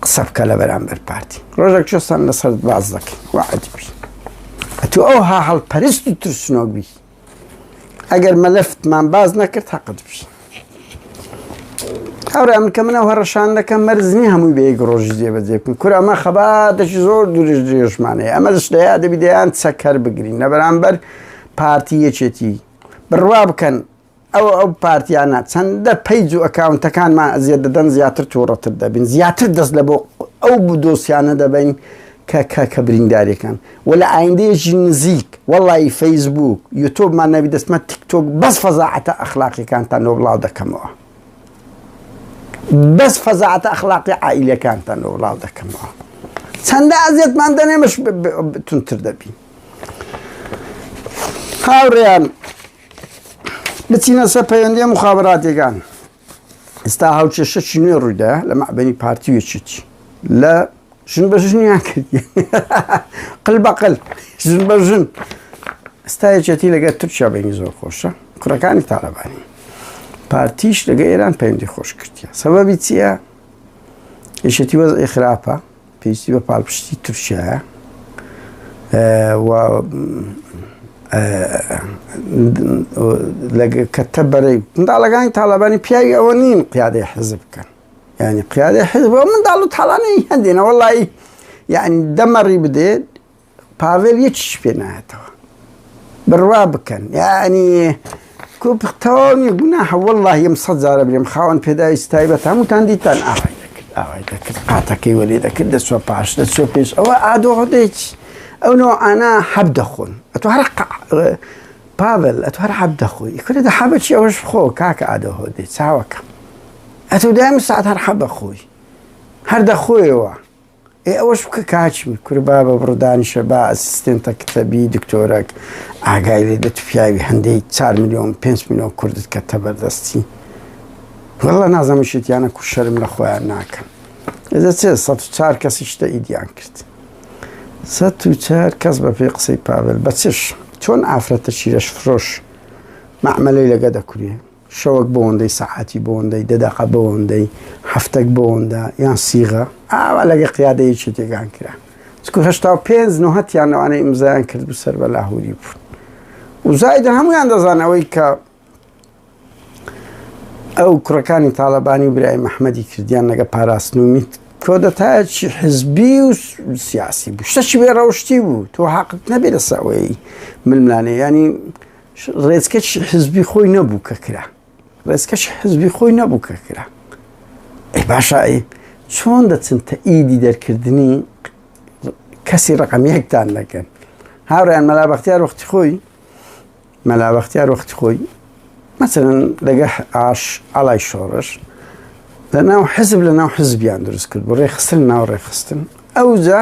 قسە بکە لە بەرامبەر پارتی ڕۆژێک چێستان لەسەر باز دەکەین وعدی ئەتو ئەو ها هەڵپەرست و ترسنۆک بی ئەگەر مەلەفتمان باز نەکرد هەقت بی هەورە من کە منە هەڕەشان دەکەم مەرزنی هەمووی بەیەک ڕۆژی دێ بەدێکم کورە ئەمە خەباتێکی زۆر درێژ درێژمانەیە ئەمە دەشتەیە دەبی دەیان چەکەر بگرین لە بەرامبەر پارتی یەکێتی بڕوا بکەن ئەو ئەو پارتیانە چەندە پەیج و ئەکاونتەکانمان ئەزیەت دەدەن زیاتر توڕەتر دەبین زیاتر دەست لە بۆ ئەو بدۆسیانە دەبین کە کە کە برینداریەکان و لە ئایندەیەکی نزیک وەڵی فەیسبوک یوتۆبمان نەبی دەستمە تیکتۆک بەس فەزاعەتە ئەخلاقیەکانتان نۆ بڵاو دەکەمەوە بەس فەزاعەتە ئەخلاقی عیلەکانتان نۆ بڵاو دەکەمەوە چەندە ئەزیەتمان دەنێمەش تونتر دەبین هاوڕێیان بچینە سەر پەیوەندی مخابراتێکان ئستا هاوچێشەکی نوێ ڕوویدا لە مەعبەنی پارتی وێچێتی لە ژن بە ژنیان کرد قل بەقل ژن بە ژن ئستا یەکێتی لەگە تورکیا بینی زۆر خۆشە کوڕەکانی تاالبانی پارتیش لەگە ئێران پەیوەندی خۆش کردە سەبەبی چییە یشێتی وەز ئێخراپە پێویستی بە پاڵپشتی تورکیایە کەتە بەرەی منداڵەکانی تاالبانی پیاوی ئەوە نین قیادەی حەزب بکەن ینی قیادەی حزب منداڵ و تاالانەی هەندێنەوە لای یعنی دەمەڕی بدێت پاڤێل یەکیش پێ نایەتەوە بڕوا بکەن یعنی کوپ تەواو نیە گوناحە والله یەم سەد جارە بێم خاوەن پێداویست تایبەت هەمووتان دیتان ئاوای دەکرد ئاوای دەکرد قاتەکەی وەلێ دەکرد دەچوە پاش دەچوە پێش ئەوە ئادۆڕدەیت ئەو نۆ ئانا حەب دەخۆن ئەتو هەر پاڤل ئەتو هەر حەب دەخۆی کورە دە حەبە چی ئەوەش خۆ کاکە ئادۆ هۆدێ چاوەکەم ئەتو دایم ساعت هەر حەبە خۆی هەر دەخۆیەوە ئێ ئەوەش بکە کاچم کورە بابە بڕۆ دانیشە با ئەسیستێنتە کتەبی دکتۆرەک ئاگای لێ بێت پیاوی هەندەی چار ملیۆن پێنج ملیۆن کوردت کە تەبەردەستی وەڵا نازەمە شتیانە کو شەرم لە خۆیان ناکەن ئێزە چێ سە چار کەسی شتە ئیدیان کرد سە و چار کەس بە پێ قسەی پاول بەچش چۆن ئافرەتە چیرەش فرۆش مەعملەی لەگە دەکرێ شەوەک بۆندەی سەعاتی بۆندەی دە دەقە بۆندەی هەفتەک بۆندە یان سیغە ئاوا لەگە قیادەیەکی تێگان کرا چکو هشتا و پێنج نوهتیان لەوانەی ئمزایان کرد و سەر بە لاهوری بوون وزایدە هەمویان دەزان ئەوەی کە ئەو کوڕەکانی تاالبانی و برای مححمەدی کردیان لەگە پاراستن و میت کۆدەتایەکی حزبی و سیاسی بوو شتەکی بێ ڕەوشتی بوو تۆ حقت نەبێ لەسەوەی ململانێ ینی ڕێزکەش حزبی خۆی نەبوو کە کرا ڕێزکەش حزبی خۆی نەبوو کە کرا ئەی باشە ئەی چۆن دەچن تە ئیدی دەرکردنی کەسی ڕقم یەکتان دەکەن هاوڕیان مەلابختیار وەختی خۆی مەلابختیار وەختی خۆی مەسەرن لەگە ئاش ئالای شۆڕش لە ناو حزب لە ناو حزبیان دروست کرد بۆ ڕێخستن ناو ڕێخستن ئەوجا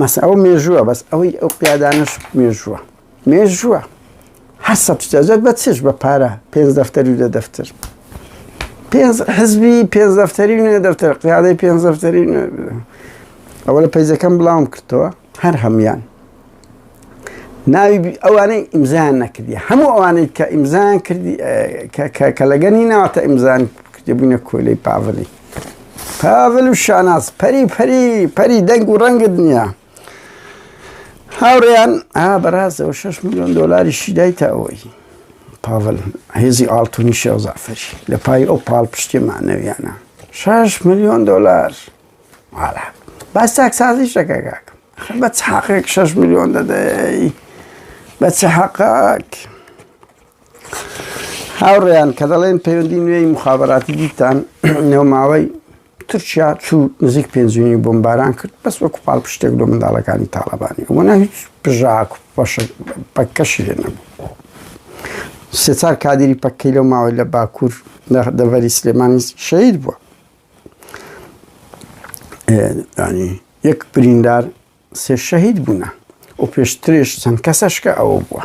مەسە ئەو مێژووە بەس ئەوەی ئەو قیادانەش مێژووە مێژووە هەر سەجەت بە چش بە پارە پێ دەفتەری لە دەفتر پێنج حزبی پێنج دەفتەری نوێ دەفتەر قیادەی پێنج دەفتەری ئەوە لە پیزەکەم بڵاوم کردەوە هەر هەموان ناوی ئەوانەی ئیمزان نەکردی هەموو ئەوانەی کە ئیمزان کردی کە لەگەنی ناواتە ئیمزان کردی بوونە کۆلەی پاڤلی پاڤل و شاناز پەری پەری پەری دەنگ و ڕەنگت نییە هاوڕێیان ئا بەڕاستەوە 6 میلیۆن دلاری شیدای تا ئەوەی پاڤل هێزی ئاڵتونی شێوزافری لە پای ئەو پاڵ پشتێ مانەویانە 6 میلیۆن دلار واڵا باس تاکسازی شەکەکەک بە چ حەقێک 6 میلیۆن دەدەی بە چ حەقاک هاوڕێیان کە دەڵێن پەیوەندی نوێی مخابراتی دیتان نێوماوەی تورکیا چوو نزیک پێنجوینی بۆمباران کرد بەس وەکو پاڵ پشتێک لە منداڵەکانی تاالبانی وەنا هیچ پژاک پەکەشی لێ نەبوو سێچار کادری پەکەی لەو ماوەی لە باکوور دەڤەری سلێمانی شەید بووە ینی یەک بریندار سێ شەهید بوونە و پێشترێش چەند کەسەشکە ئەوە بووە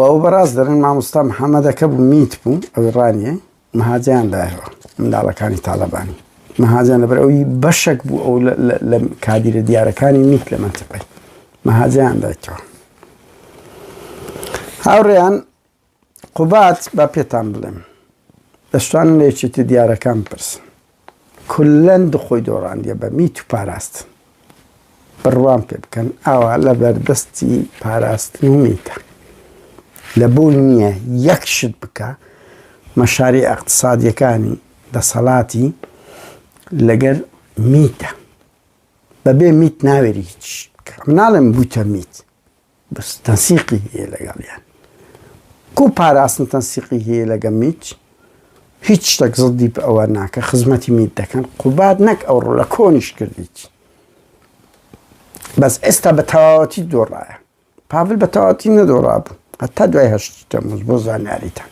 ئەو بەڕاست دەرن مامۆستا محەممەدەکە بوو میت بوو ئەوی ڕانیە مهاجیان دایەوە منداڵەکانی تاالبانی مهاجان لەبەر ئەوی بەشک بوو ئەو لە کادیرە دیارەکانی میت لە منتەقی مهاجیان دایتەوە هاوڕێیان قوباد با پێتان بڵێم دەشتوانن لە یەکێتی دیارەکان بپرسن کلەن دخۆی دۆڕاندیە بە میت و پاراستن بڕوام پێ بکەن ئاوا لە بەردەستی پاراستن و میتە لە بۆ نییە یەک شت بکە مەشاری ئەقتصادیەکانی دەسەڵاتی لەگەر میتە بەبێ میت ناوێری هیچ مناڵم بوتە میت بەس تەنسیقی هەیە لەگەڵیان کو پاراستن تەنسیقی هەیە لەگە میت هیچ شتێک زڵدی بە ئەوە ناکە خزمەتی میت دەکەن قوبات نەک ئەو ڕۆ لە کۆنیش کردیت بەس ئێستا بە تەواوەتی دۆڕایە پاڤل بە تەواتی نەدۆڕابوو هەتا دوای هەشتی تەموز بۆ زانیاریتان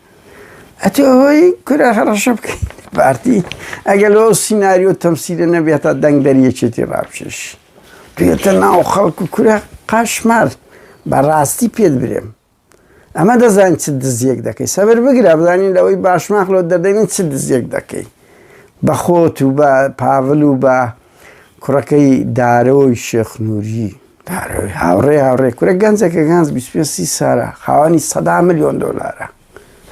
ئەتۆ ئەوەی کورە هەڕەشە بکەین پارتی ئەگەر لەو سینناریۆ تەمسیلە نەبێتە دەنگ دەریەکێتی ڕاپشێش پێتە ناو خەڵک و کورە قاشمار بەڕاستی پێت برێم ئەمە دەزانین چ دزیەک دەکەی سەبر بگرە بزانین لەوەی باشماخ لۆ دەدەین چ دزیەک دەکەی بە خۆت و بە پاڤل و بە کوڕەکەی دارۆی شێخ نووری دارۆی هاوڕێ هاوڕێ کورە گەنجەکە گەنج 25 سی سارە خاوەنی سەدا ملیۆن دۆلارە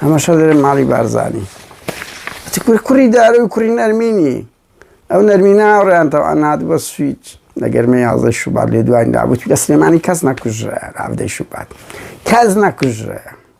هەمەشە دەێن ماڵی بارزانانی کوری کوڕی دارە و کوڕی نەرمینی ئەو نەرمی ناوڕیانتەوە ئەنات بە سویچ لە گەرمە یازدە شوبات لێ دوای دابوت لە سلێمانی کەس نەکوژرە ئابدەی شوبات کەس نەکوژرە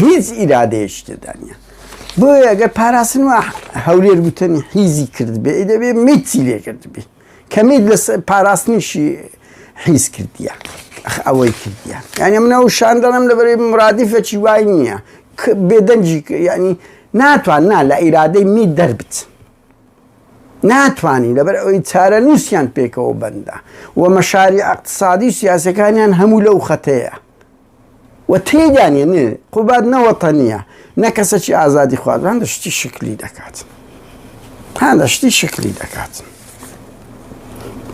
هیچ ئیرادەیەکی تێدا نیە بۆیە گەر پاراستن و هەولێر گوتنی حیزی کرد بێ دەبێ میتی لێ کرد بێ کەمیت لە پاراستنیشی حیز کردیە ئەوەی کردیە یعنی منە و شان دەڵم لە بەری مرادیفەکی وای نییە بێدەنجی ینی ناتوان نا لە ئیرادەی می دەربت ناتوانانی لەبەر ئەوی چارە نووسیان پێکەوە بەندە و مەشاری اقتصادی سیاسەکانیان هەموو لەو خەتەیە و تێیدا نیە نێ قوباد نە وەتەنیە نە کەسەکی ئازادی خوازان لە شتی شکلی دەکات تا لە شتی شکلی دەکات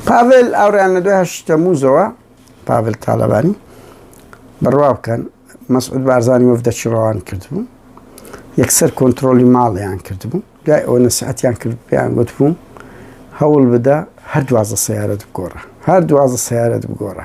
پاڤل ئاوریان لە دوای هەشتە موزەوە پاڤل تاالبانی بڕوا بکەن مەسعود بارزانانی وەفدەکی ڕەوان کردبوو یەکسەر کۆنتترۆلی ماڵیان کردبوو دوای ئەوە نەسیحەتیان کرد پێیان گوتبووم هەوڵ بدە هەر دوازە سیارەت بگۆڕە هەر دوازە سیارەت بگۆڕە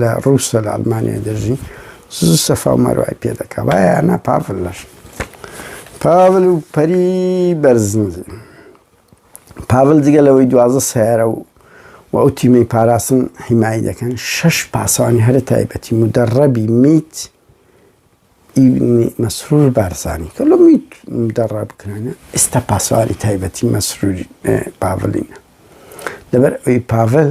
لە ڕووسە لە ئەلمانیا دەژی سز سەفا و مەروای پێ دەکا وایە ئەنا پاڤل لەش پاڤل و پەری بەرزنجی پاڤل جگە لەوەی دوازە سیارە و و ئەو تیمەی پاراستن حیمایی دەکەن شش پاسەوانی هەرە تایبەتی و دەڕەبی میت مەسرور بارسانی کە لە میت دەڕا بکرانە ئێستا پاسەوانی تایبەتی مەسروری پاڤلینە لەبەر ئەوی پاڤل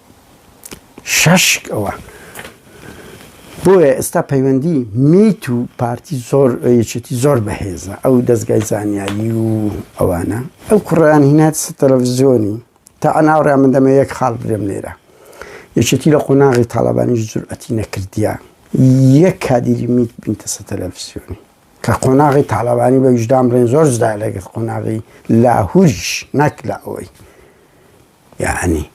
شەشکەوە بۆیە ئێستا پەیوەندی میت و پارتی زۆر یەکێتی زۆر بەهێزە ئەو دەستگای زانیاری و ئەوانە ئەو کوڕیان هینات تەلەڤزیۆنی تا ئەناوڕێ من دەمە یەک خاڵ برێم لێرە یەکێتی لە قۆناغی تاالبانی جورئەتی نەکردیان یەک کادیری میت بینتە سە تەلەڤزیۆنی کە قۆناغی تاالبانی بە ویژدام بڵێن زۆر زدا لەگەڵ قۆناغی لاهوریش نەک لە ئەوەی یەعنی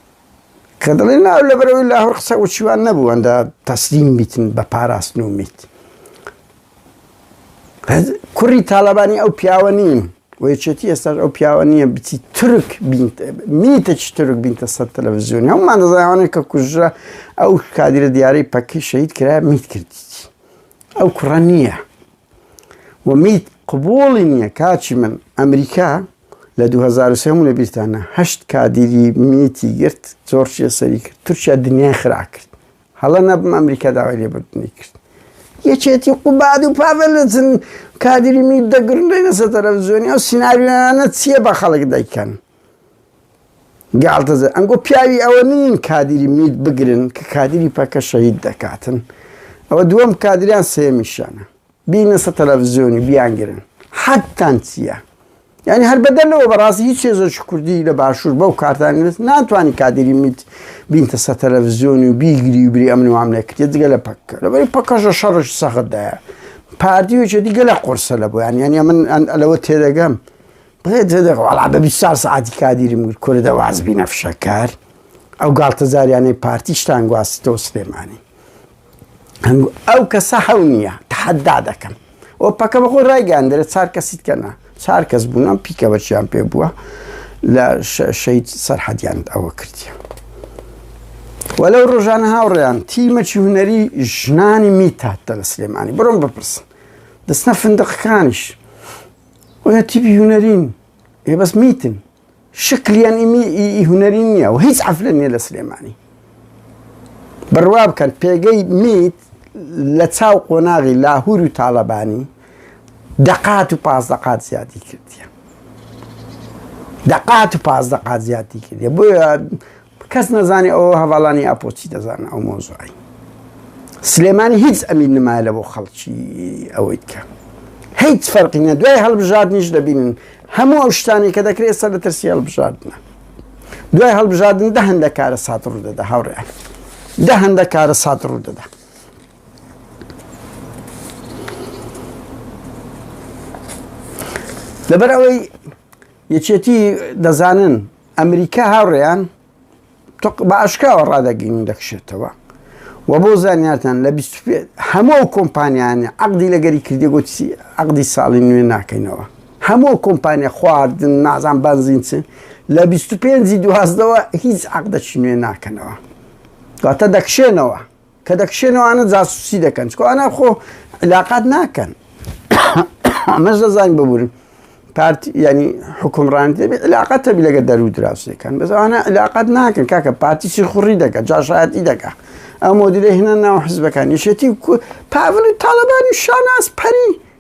کە دەڵێن نا لەبەرەوەی لاهور قسە وچیوان نەبوو ئەندە تەسلیم بیتن بە پاراستن و میت کوڕی تاالبانی ئەو پیاوە نیم وەیەکێتی ئێستاش ئەو پیاوە نییە بچی ترک میتەکی ترک بینتە سەر تەلەڤزیۆن هەمومان دەزانانە کە کوژرە ئەو کادرە دیارەی پەکی شەید کرا میت کردیت ئەو کوڕە نییە و میت قبوڵی نییە کاچی من ئەمریکا لە دوو هەزار و سێ هەموو لە بیرتانە هەشت کادیری میتی گرت زۆر چێ سەری کرد تورکیا دنیای خرا کرد هەڵە نەبم ئەمریکا داوای لێبردنی کرد یەکێتی قوباد و پاڤلزن کادیری میت دەگرن دەینەسە تەلەڤزیۆنی ئەو سیناریۆیانە چییە بە خەڵک دەیکەن گاڵتەزە ئەنگۆ پیاوی ئەوە نین کادیری میت بگرن کە کادیری پەکە شەهید دەکاتن ئەوە دووەم کادریان سێمیشانە بینە سە تەلەفزیۆنی بیانگرن حەدتان چییە؟ یعنی هەر بەدەر لەوە بەڕاستی هیچ هێزەکی کوردی لە باشوور بەو کارتان نوێت ناتوانانی کادری میت بینتە سە تەلەڤزیۆنی و بیگری و بری ئەمن وام نەکرێت جگە لە پەککە لەبەری پەکەشە شەڕش سەختدایە پارتی وچێ دیگە لە قرسە لە بۆیان یانە من ئەلەوە تێدەگەم بەڵا بە بیسا سعاتی کادیری مگر کورە دەواز بینە فشەکار ئەو گاڵتەزاریانەی پارتیشتان گواستەوە سلێمانی ئەو کەسە حەو نییە تحدا دەکەم و پەکە بە خۆی ڕایگەاندرێت چار کەسیت کەنا چار کەس بوون ئەم پیکە بەچیان پێ بووە لە شەید سەرحەدیان ئەوە کردیە وە لەو ڕۆژانە هاوڕێیان تیمەکی هوەری ژنانی میتاتە لە سلێمانی بڕۆم بپرسن دەستە فندقەکانیش وە تیبی هوەرین ێ بەس میتن شکل یان ی ی هونەری نییە و هیچ عەفلە نییە لە سلێمانی بڕوا بکەن پێگەی میت لە چاو قۆناغی لاهور و تاڵەبانی دەقات و پاس دەقات زیادی کردیە دەقات و پاس دەقات زیادی کردیە بۆیە کەس نەزانێ ئەوە هەواڵانی ئاپۆ چی دەزانە ئەو مۆزوعی سلێمانی هیچ ئەمین نمایە لە بۆ خەڵکی ئەوەی کە هیچ فەرقینە دوای هەڵبژاردنیش دەبینن هەموو ئەو شتانی کە دەکرێت سەر لە ترسی هەڵبژاردنە دوای هەڵبژاردن دە هەندە کارە سات ڕوو دەدا هاوڕێن دە هەندە کارە سات ڕوو دەدا لەبەر ئەوەی یەکێتی دەزانن ئەمریکا هاوڕێیان تۆق بە ئاشکراوە ڕادەگەین دەکشێتەوە و بۆ زانیارتان لە هەموو ئەو کۆمپانیانە عقدی لەگەری کردی گوتی عقدی ساڵی نوێ ناکەینەوە هەموو کۆمپانیا خواردن نازان بەنزین چن لە 25 دوازدەوە هیچ عقدەچی نوێ ناکەنەوە دواتە دەکشێنەوە کە دەکشێن و ئانە جاسوسی دەکەن چکۆ ئانا خۆ علااقات ناکەن ئەمەش دەزانین ببوورن پارتی ینی حکومڕانی دەبێت علااقات تەبی لەگە دەرو دراوسەکان بەزانە علااقات ناکەن کاکە پارتی چی خوڕی دەکە جاشایەتی دەکە ئەو مۆدیرە هێنە ناو حزبەکان یشێتی پاڤلی تاالبانی شاناز پەری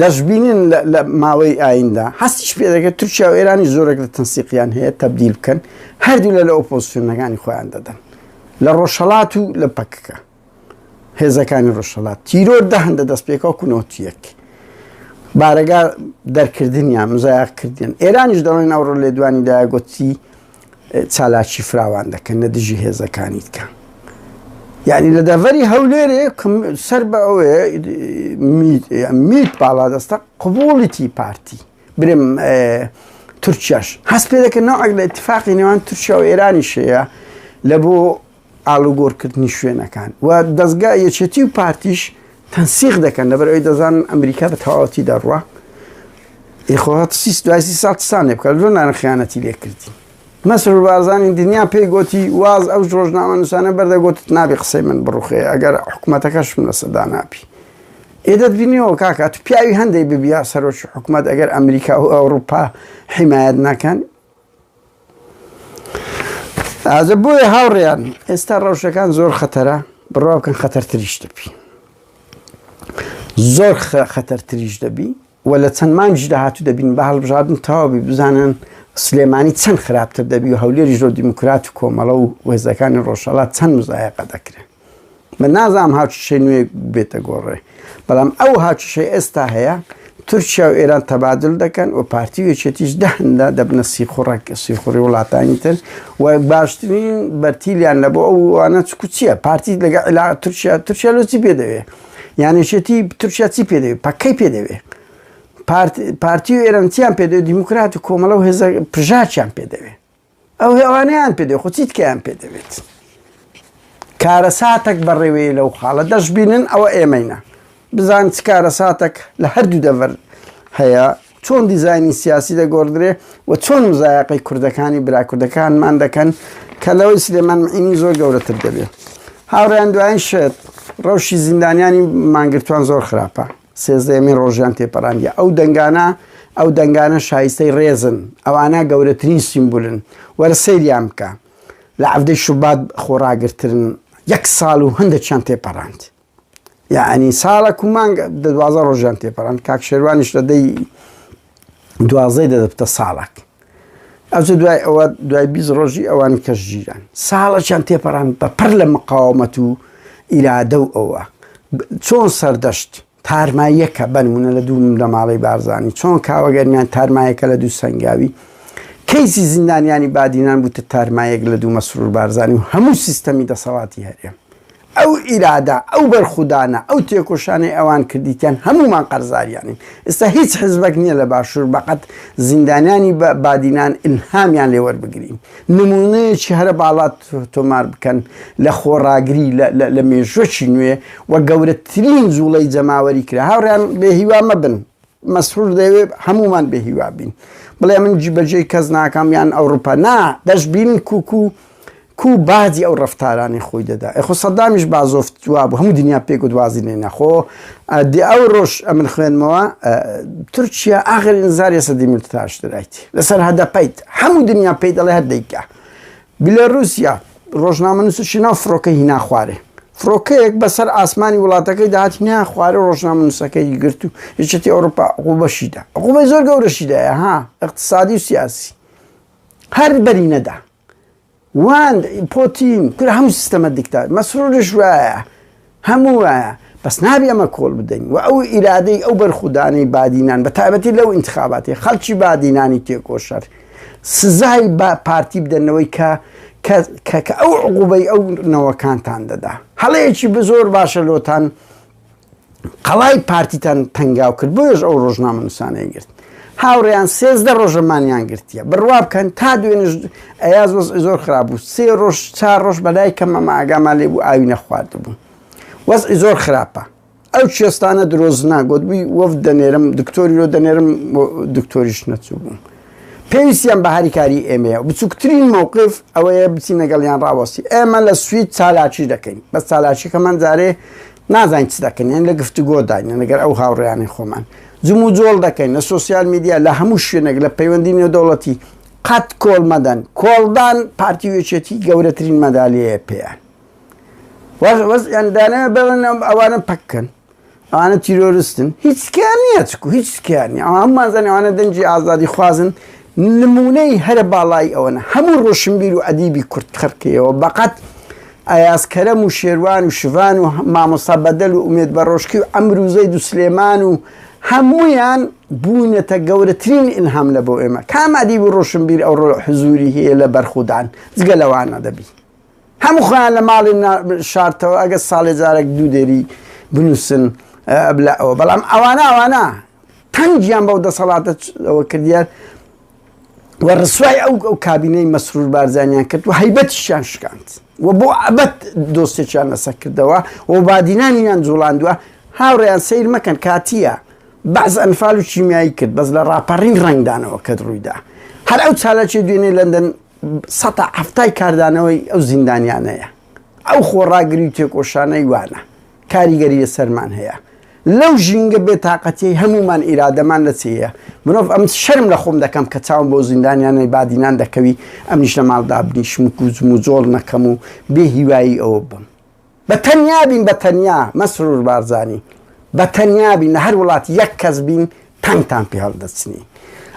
دەشبینن لە ماوەی ئایندا هەستیش پێ دەکرێت تورکیا و ئێرانی زۆرێک لە تەنسیقیان هەیە تەبدیل بکەن هەردوو لە لە ئۆپۆزیسیۆنەکانی خۆیان دەدەن لە ڕۆژهڵات و لە پەکەکە هێزەکانی ڕۆژهڵات تیرۆر دەهندە دەست پێکەوە کونۆتیەک بارەگا دەرکردنیان مزایاکردن ئێرانیش دەڵێن ئەوڕۆ لێدوانی داگوتی چالاکی فراوان دەکەن لە دژی هێزەکانی دیکە. یعنی لە دەڤەری هەولێرێ سەر بە ئەوەیە میت باڵادەستە قوبوڵیتی پارتی برم تورکیاش هەست پێ دەکەن ناوەک لە اتفاقی نێوان تورکیا و ئێرانی شەیە لە بۆ ئاڵوگۆڕکردنی شوێنەکان و دەزگا یەکێتی و پارتیش تەنسیق دەکەن لەبەر ئەوی دەزانن ئەمریکا بە تەواوەتی دەڕوە ئیخۆات سیس دوای سی ساڵ سانێ بکە لۆنانە خیانەتی لێ کردین مەسر بازانانی دنیا پێی گوتی واز ئەو ڕۆژنامە نووسانە بەردەگوت نابی قسەی من بڕوخێ ئەگەر حکوومەتەکەشم لە سەدا ناپی ئێدەت بینیەوە کاکات پیاوی هەندێک ببیا سەرۆکی حکوومەت ئەگەر ئەمریکا و ئەوروپا حیمایەت نەکەن ئازە بۆیە هاوڕێیان ئێستا ڕەوشەکان زۆر خەتەرە بڕوا بکەن خەتەرتریش دەبی زۆر خەتەرتریش دەبی و لە چەند مانگش داهاتوو دەبین بە هەڵبژاردن تەواوبی بزانن سلێمانی چەند خراپتر دەبی و هەولێری زۆر دیموکرات و کۆمەڵە و وێزەکانی ڕۆژهڵات چەند مزایەقە دەکرێن من نازانم هاوچشەی نوێ بێتە گۆڕێ بەڵام ئەو هاوچشەی ئێستا هەیە تورکیا و ئێران تەبادل دەکەن و پارتی وێچێتیش دەهندا دەبنە سیخوڕک سیخوڕی وڵاتانی تر و باشترین بەرتیلیان لە بۆ ئەووانە چکوچیە پارتی لەگە علا تورکیا تورکیا لۆچی پێ دەوێ یانێشێتی تورکیا چی پێ دەوێت پەکەی پێ دەوێت پارتی و ئێرانسییان پێ دەوێت دیموکرات و کۆمەڵە و هێزە پژاچیان پێ دەوێت ئەو هێوانەیان پێ دێ خۆ چی تکەیان پێ دەوێت کارەساتەک بەڕێوەیە لەو خاڵە دەشببینن ئەوە ئێمەینە بزان چ کارەساتەک لە هەردوو دەڤەر هەیە چۆن دیزانی سیاسی دەگۆڕدرێ و چۆن مزایقی کوردەکانی براکوردەکانمان دەکەن کە لەوەی سلێمان مینی زۆر گەورەتر دەبێت هاوڕیان دوایین شێت ڕەوشی زیندانیانی مانگرتوان زۆر خراپە سێزدەیەمین ڕۆژیان تێپەراندیە ئەو دەنگانە ئەو دەنگانە شایستەی ڕێزن ئەوانە گەورەترین سیمبولن وەرە سەیریان بکە لە عەفدەی شوبات خۆڕاگرترن یەک ساڵ و هەندێکیان تێپەڕاند یعنی ساڵە کومانگ دوازە ڕۆژیان تێپەڕاند کاک شێوانیش لە دەی دوازدەی دەدە بتە ساڵک ئەوجە دوای ئەوە دوای بیست ڕۆژی ئەوان کەش ژیران ساڵەکیان تێپەڕان بە پڕ لە مقاومەت و ئیرادە و ئەوە چۆن سەردەشت تارماییەکە بەنمونە لە دوو لە ماڵی بارزانانی چۆن کاوەگەرمیان تارمایەکە لە دوو سنگاوی کەیسی زیندانیانی بادینان بووتە تارمایەک لە دوو مەسرور بارزانانی و هەموو سیستەمی دەسەڵاتی هەرێم ئەو ئیرادە، ئەو بەرخودانە، ئەو تێکۆشانەی ئەوان کردیتیان هەموومان قەرزاریانین. ئێستا هیچ حزبەک نییە لە باشوور بەقەد زیندانیانی بادینان ئیلهامیان لێ وەربگرین. نموونەیەکی هەرە باڵا تۆمار بکەن لە خۆڕاگری لە مێژووەکی نوێ و گەورەترین جووڵەی جەماوەری کرا. هاوڕێیان بێ هیوا مەبن. مەسرور دەیەوێ هەمومان بێ هیوا بین بڵێ من جیبەجێی کەس ناکەم یان ئەوروپا نا دەشبین کوکو و کو باجی ئەو ڕفتارانی خۆی دەدا ئەخۆ سەدامیش بازۆفت جواب هەموو دنیا پێک و دوازی لێ نەخۆ دی ئەو ڕۆژ ئەمن خوێنمەوە تورکیا ئاغر ئینزاری سەدی ملتاشترایت لەسەر هەدەپەیت هەموو دنیا پێی دەڵێ هەردەیکە بیلاروسیا، ڕۆژنامەنووس و شیناو فڕۆکەی هینا خوارێ. فڕۆکەیەک بە سەر ئاسمانی وڵاتەکەیدا هات هینایە خوارێ و ڕۆژنامەنووسەکەی گرت و یەکێتی ئەوڕوپا عقوبەشی دا. عقوبەی زۆر گەورەشی دا یە ها، ئیقتسادی و سیاسی. هەر بەری نەدا. وان، پۆتین، کورە هەموو سیستەمە دیکتا. مەسروریش وایە. هەموو وایە بەس نابێ ئەمە کۆڵ بدەین و ئەو ئیرادەی ئەو بەرخودانەی بادینان بە تایبەتی لەو ئینتخاباتی خەڵکی بادینانی تێکۆشەر سزای بە پارتی بدەنەوەی کە کە ئەو عقوبەی ئەو نەوەکانتان دەدا هەڵەیەکی بزۆر باشە لۆتان قەڵای پارتیتان تەنگاو کرد بۆیش ئەو ڕۆژنامە نووسانەی گرت هاوڕێیان سێزدە ڕۆژە مانیان گرتیە بڕوا بکەن تا دوێنش ئەیاز وەز زۆر خراپ بوو سێ ڕۆژ چار ڕۆژ بەلای کەمە ماگامان لێ بوو ئاوی نەخوارد بوو وەزی زۆر خراپە ئەو چێستانە درۆزنا گوتبووی وەف دەنێرم دکتۆری لۆ دەنێرم دکتۆریش نەچوو بوو پێویستیان بە هەریکاری ئێمەیە بچووکترین مووقف ئەوەیە بچین لەگەڵیان ڕاوەستی ئێمە لە سوید چالاکی دەکەین بە چالاکیەکەمان جارێ نازانین چ دەکەین یان لە گفتوگۆداین یان لەگەڵ ئەو هاوڕێیانی خۆمان جموجۆڵ دەکەین لە سۆسیال میدیا لە هەموو شوێنێک لە پەیوەندی نێودەوڵەتی قەت کۆڵ مەدەن کۆڵدان پارتی وێچێتی گەورەترین مەدالیەیە پێیان وەز وەزیان دانێ بڵن ئەوانە پەککەن ئەوانە تیرۆرستن هیچ کیان نییە چکو هیچ کیانی ئەو هەممانزانانی ئەوانە دەنجی ئازادی خوازن نمونەی هەرە باڵایی ئەوەنە هەموو ڕۆشنبیر و ئەدیبی کورد خەرکەیەوە بەقەت ئەیاز کەرەم و شێروان و شڤان و مامۆستا بەدەل و ئومێد بەڕۆشکی و عەمر و زەید و سلێمان و هەموویان بوونەتە گەورەترین ئیلهام لە بۆ ئێمە کام ئەدیب و ڕۆشنبیر ئەوڕۆ حزووری هەیە لە بەرخودان جگە لەوان ئەدەبی هەموو خۆیان لە ماڵی شارتەوە ئەگەر ساڵێ جارێک دوو دێری بنووسن بلا ئەوە بەڵام ئەوانە ئەوانە تەنگیان بەو دەسەڵاتە ئەوە کردیان و ڕسوای ئەو ئەو کابینەی مەسرور بارزانیان کرد و هەیبەتیشیان شکاند و بۆ ئەبەد دۆستێکیان لەسەر کردەوە و بادینانیان جوڵاندووە هاوڕێیان سیر مەکەن کاتیە بەعز ئەنفال و کیمیایی کرد بەس لە ڕاپەڕین ڕنگدانەوە کەت ڕوویدا هەر ئەو چالاکی دوێنێ لەندەن سەتا هەفتای کاردانەوەی ئەو زیندانیانەیە ئەو خۆڕاگری و تێکۆشانەی وانە کاریگەری لەسەرمان هەیە لەو ژینگە بێ تاقەتیەی هەموومان ئیرادەمان لە چێیە مرۆڤ ئەم شەرم لە خۆم دەکەم کە چاوم بۆ زیندانیانەی بادینان دەکەوی ئەمنیش لە ماڵ دابنیشم و کوزم و جۆڵ نەکەم و بێ هیوایی ئەوە بم بە تەنیا بین بە تەنیا مەسرور بارزانی بە تەنیا بین لە هەر وڵات یەک کەس بین تانتان پێ هەڵدەچنی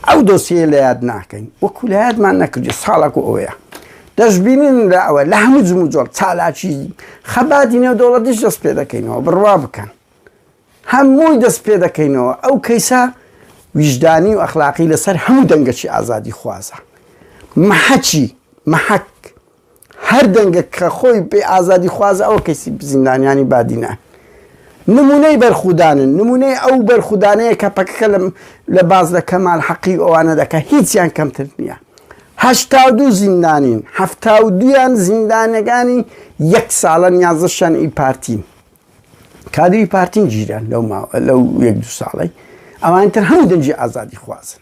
ئەو دۆسیەیە لە یاد ناکەین وەکو لە یادمان نەکردی ساڵک و ئەوەیە دەشببینین لە ئەوە لە هەموو جم و جۆڵ چالاکی خەباتی نێو دەوڵەت دیش دەست پێ دەکەینەوە بڕوا بکەن هەمووی دەست پێ دەکەینەوە ئەو کەیسە ویژدانی و ئەخلاقی لەسەر هەموو دەنگەکی ئازادی خوازە محەچی محەک هەر دەنگە کە خۆی پێی ئازادی خوازە ئەوە کەیسی زیندانیانی بادینە نمونەی بەرخودانن نمونەی ئەو بەرخودانەیە کە پەکەکە لە لە باز لە کەمال حەقی ئەوانە دەکە هیچیان کەمتر نییە هەشتا و دوو زیندانین هەفتا و دویان زیندانەکانی یەک ساڵە نیازشان ئی پارتین کادری پارتین گیران لەو ماوە لەو یەک دو ساڵی ئەوانتر هەموو دەنجی ئازادی خوازن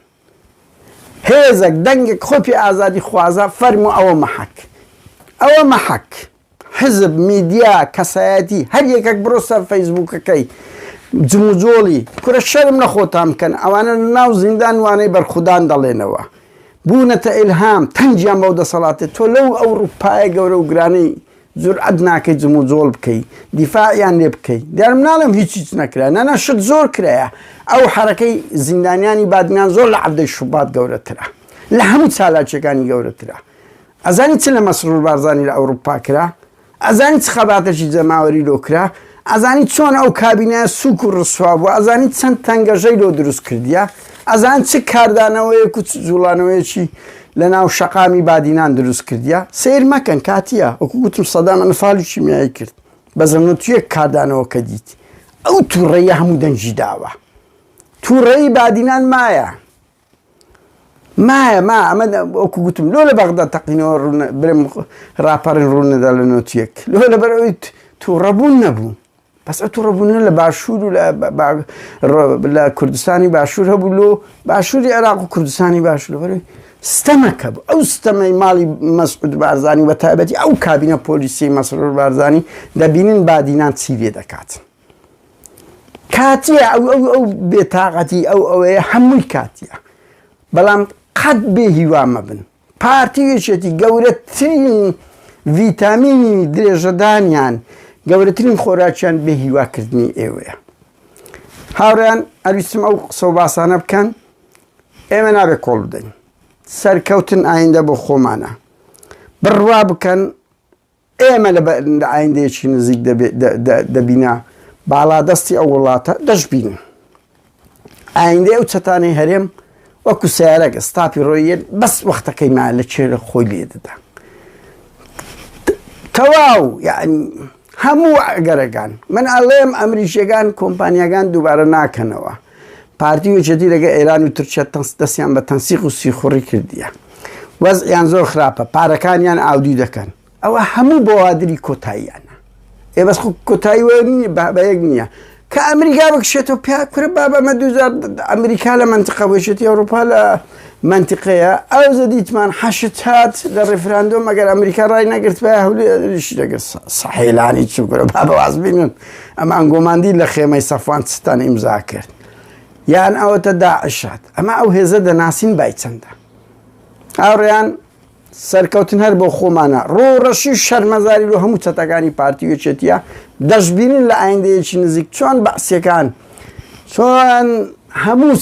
هێزەک، دەنگێک خۆی پێ ئازادی خوازە، فەرموو ئەوە مەحەک. ئەوە مەحەک. حزب، میدیا، کەسایەتی، هەر یەکەک بڕۆ سەر فەیسبووکەکەی جموجۆڵی، کورە شەرم لە خۆتان بکەن، ئەوانە لە ناو زیندان وانەی بەرخودان دەڵێنەوە. بوونەتە ئیلهام، تەنگیان بەو دەسەڵاتەی تۆ لەو ئەوڕوپایە گەورە و گرانەی جورئەت ناکەی جموجۆڵ بکەی دیفاعیان لێ بکەی دیارم ناڵێم هیچ هیچ نەکرا نەنا شت زۆر کرایە ئەو حرەکەی زیندانیانی بادنان زۆر لە عبدەی شوبات گەورەترە لە هەموو چالاکیەکانی گەورەترە ئەزانی چ لە مەسرور بارزانانی لە ئەوروپا کرا ئەزانی چ خەباتەشی جەماوەری لۆکرا ئەزانی چۆن ئەو کابینایە سوک و ڕسوا بووە ئەزانی چەند تەنگەژەی لۆ دروست کردیە ئەزان چ کاردانەوەیەک و چ جوڵانەوەیەکی لە ناو شەقامی بادینان دروست کردیە سیر مەکەن کاتیە وەکو گوتم سەدام ئەنفال و کیمیایی کرد بەزە نوتیەک کاردانەوەکە دیت ئەو توڕەیە هەموو دەنگی داوە توڕەی بادینان مایە مایە ما ئەمە وەکو گوتم لۆ لە بەغدا تەقینەوە ڕوونە برم ڕاپەڕین ڕوونەدا لە نۆتیەک لۆ لەبەر ئەویت تووڕەبوون نەبوو بەس ئە تووڕەبوونە لە باشوور و لە کوردستانی باشوور هەبوو لۆ باشووری عێراق و کوردستانی باشوور بەرەوەی ستەمەکە بوو ئەو ستەمەی ماڵی مەسعود بارزانانی بە تایبەتی ئەو کابینە پۆلیسی مەسرور بارزانانی دەبینن بادینان چی لێ دەکات. کاتیە ئەو ئەو ئەو بێتاقەتی ئەو ئەوەیە هەمووی کاتیە بەڵام قەت بێ هیوا مەبن پارتی یەکێتی گەورەترین ڤیتامینی درێژەدانیان گەورەترین خۆراکیان بێ هیواکردنی ئێوەیە هاوڕیان ئەویستم ئەو قسە و باسانە بکەن ئێمە نابێ کۆڵ بدەین سەرکەوتن ئایندە بۆ خۆمانە بڕوا بکەن ئێمە لە ئایندەیەکی نزیک دەبینە باڵادەستی ئەو وڵاتە دەشبین. ئایندەی ئەو چەتانەی هەرێم وەکو سیارەکە ستاپی ڕۆیەت بەس وەختەکەی ما لە چێ لە خۆی لێ دەدا. تەواو یعنی هەموو ئەگەرەکان من ئەڵێم ئەمریکیەکان کۆمپانیەکان دووبارە ناکەنەوە. پارتی و یەکێتی لەگە ئێران و تورکیا تەنس دەستیان بە تەنسیق و سیخوڕی کردیە وەزعیان زۆر خراپە پارەکانیان ئاودی دەکەن ئەوە هەموو بەوادری کۆتاییانە ئێ بەس کۆتایی وە نیە بە یەک نییە کە ئەمریکا بکشێتەوە پیا کورە بابە مە دوزار ئەمریکا لە منتقە بۆشێتی ئەوروپا لە مەنتیقەیە ئەوجە دیتمان حەشد هات لە ڕێفراندۆم مەگەر ئەمریکا ڕای نەگرتبای هەولێریش دەگرت سەحێلانی چ گورە با بەواز بینن ئەمان گۆماندی لە خێمەی سەفوان ستان ئیمزا کرد یان ئەوەتە داعشات ئەمە ئەو هێزە دەناسین بای چەندە ئاڕیان سەرکەوتن هەر بۆ خۆمانە. ڕووڕەشی و شەرمەزاری لۆ هەموو چەتەکانی پارتی و یەکێتیە. دەشبینن لە ئایندەیەکی نزیک چۆن بەعسیەکان چۆن هەموو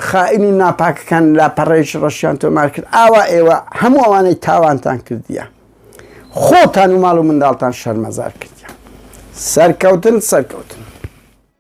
خائین و ناپاکەکان لاپەڕەیەکی ڕەشیان تۆمار کرد. ئاوا ئێوە هەموو ئەوانەی تاوانتان کردیە خۆتان و ماڵ و منداڵتان شەرمەزار کردیان. سەرکەوتن سەرکەوتن.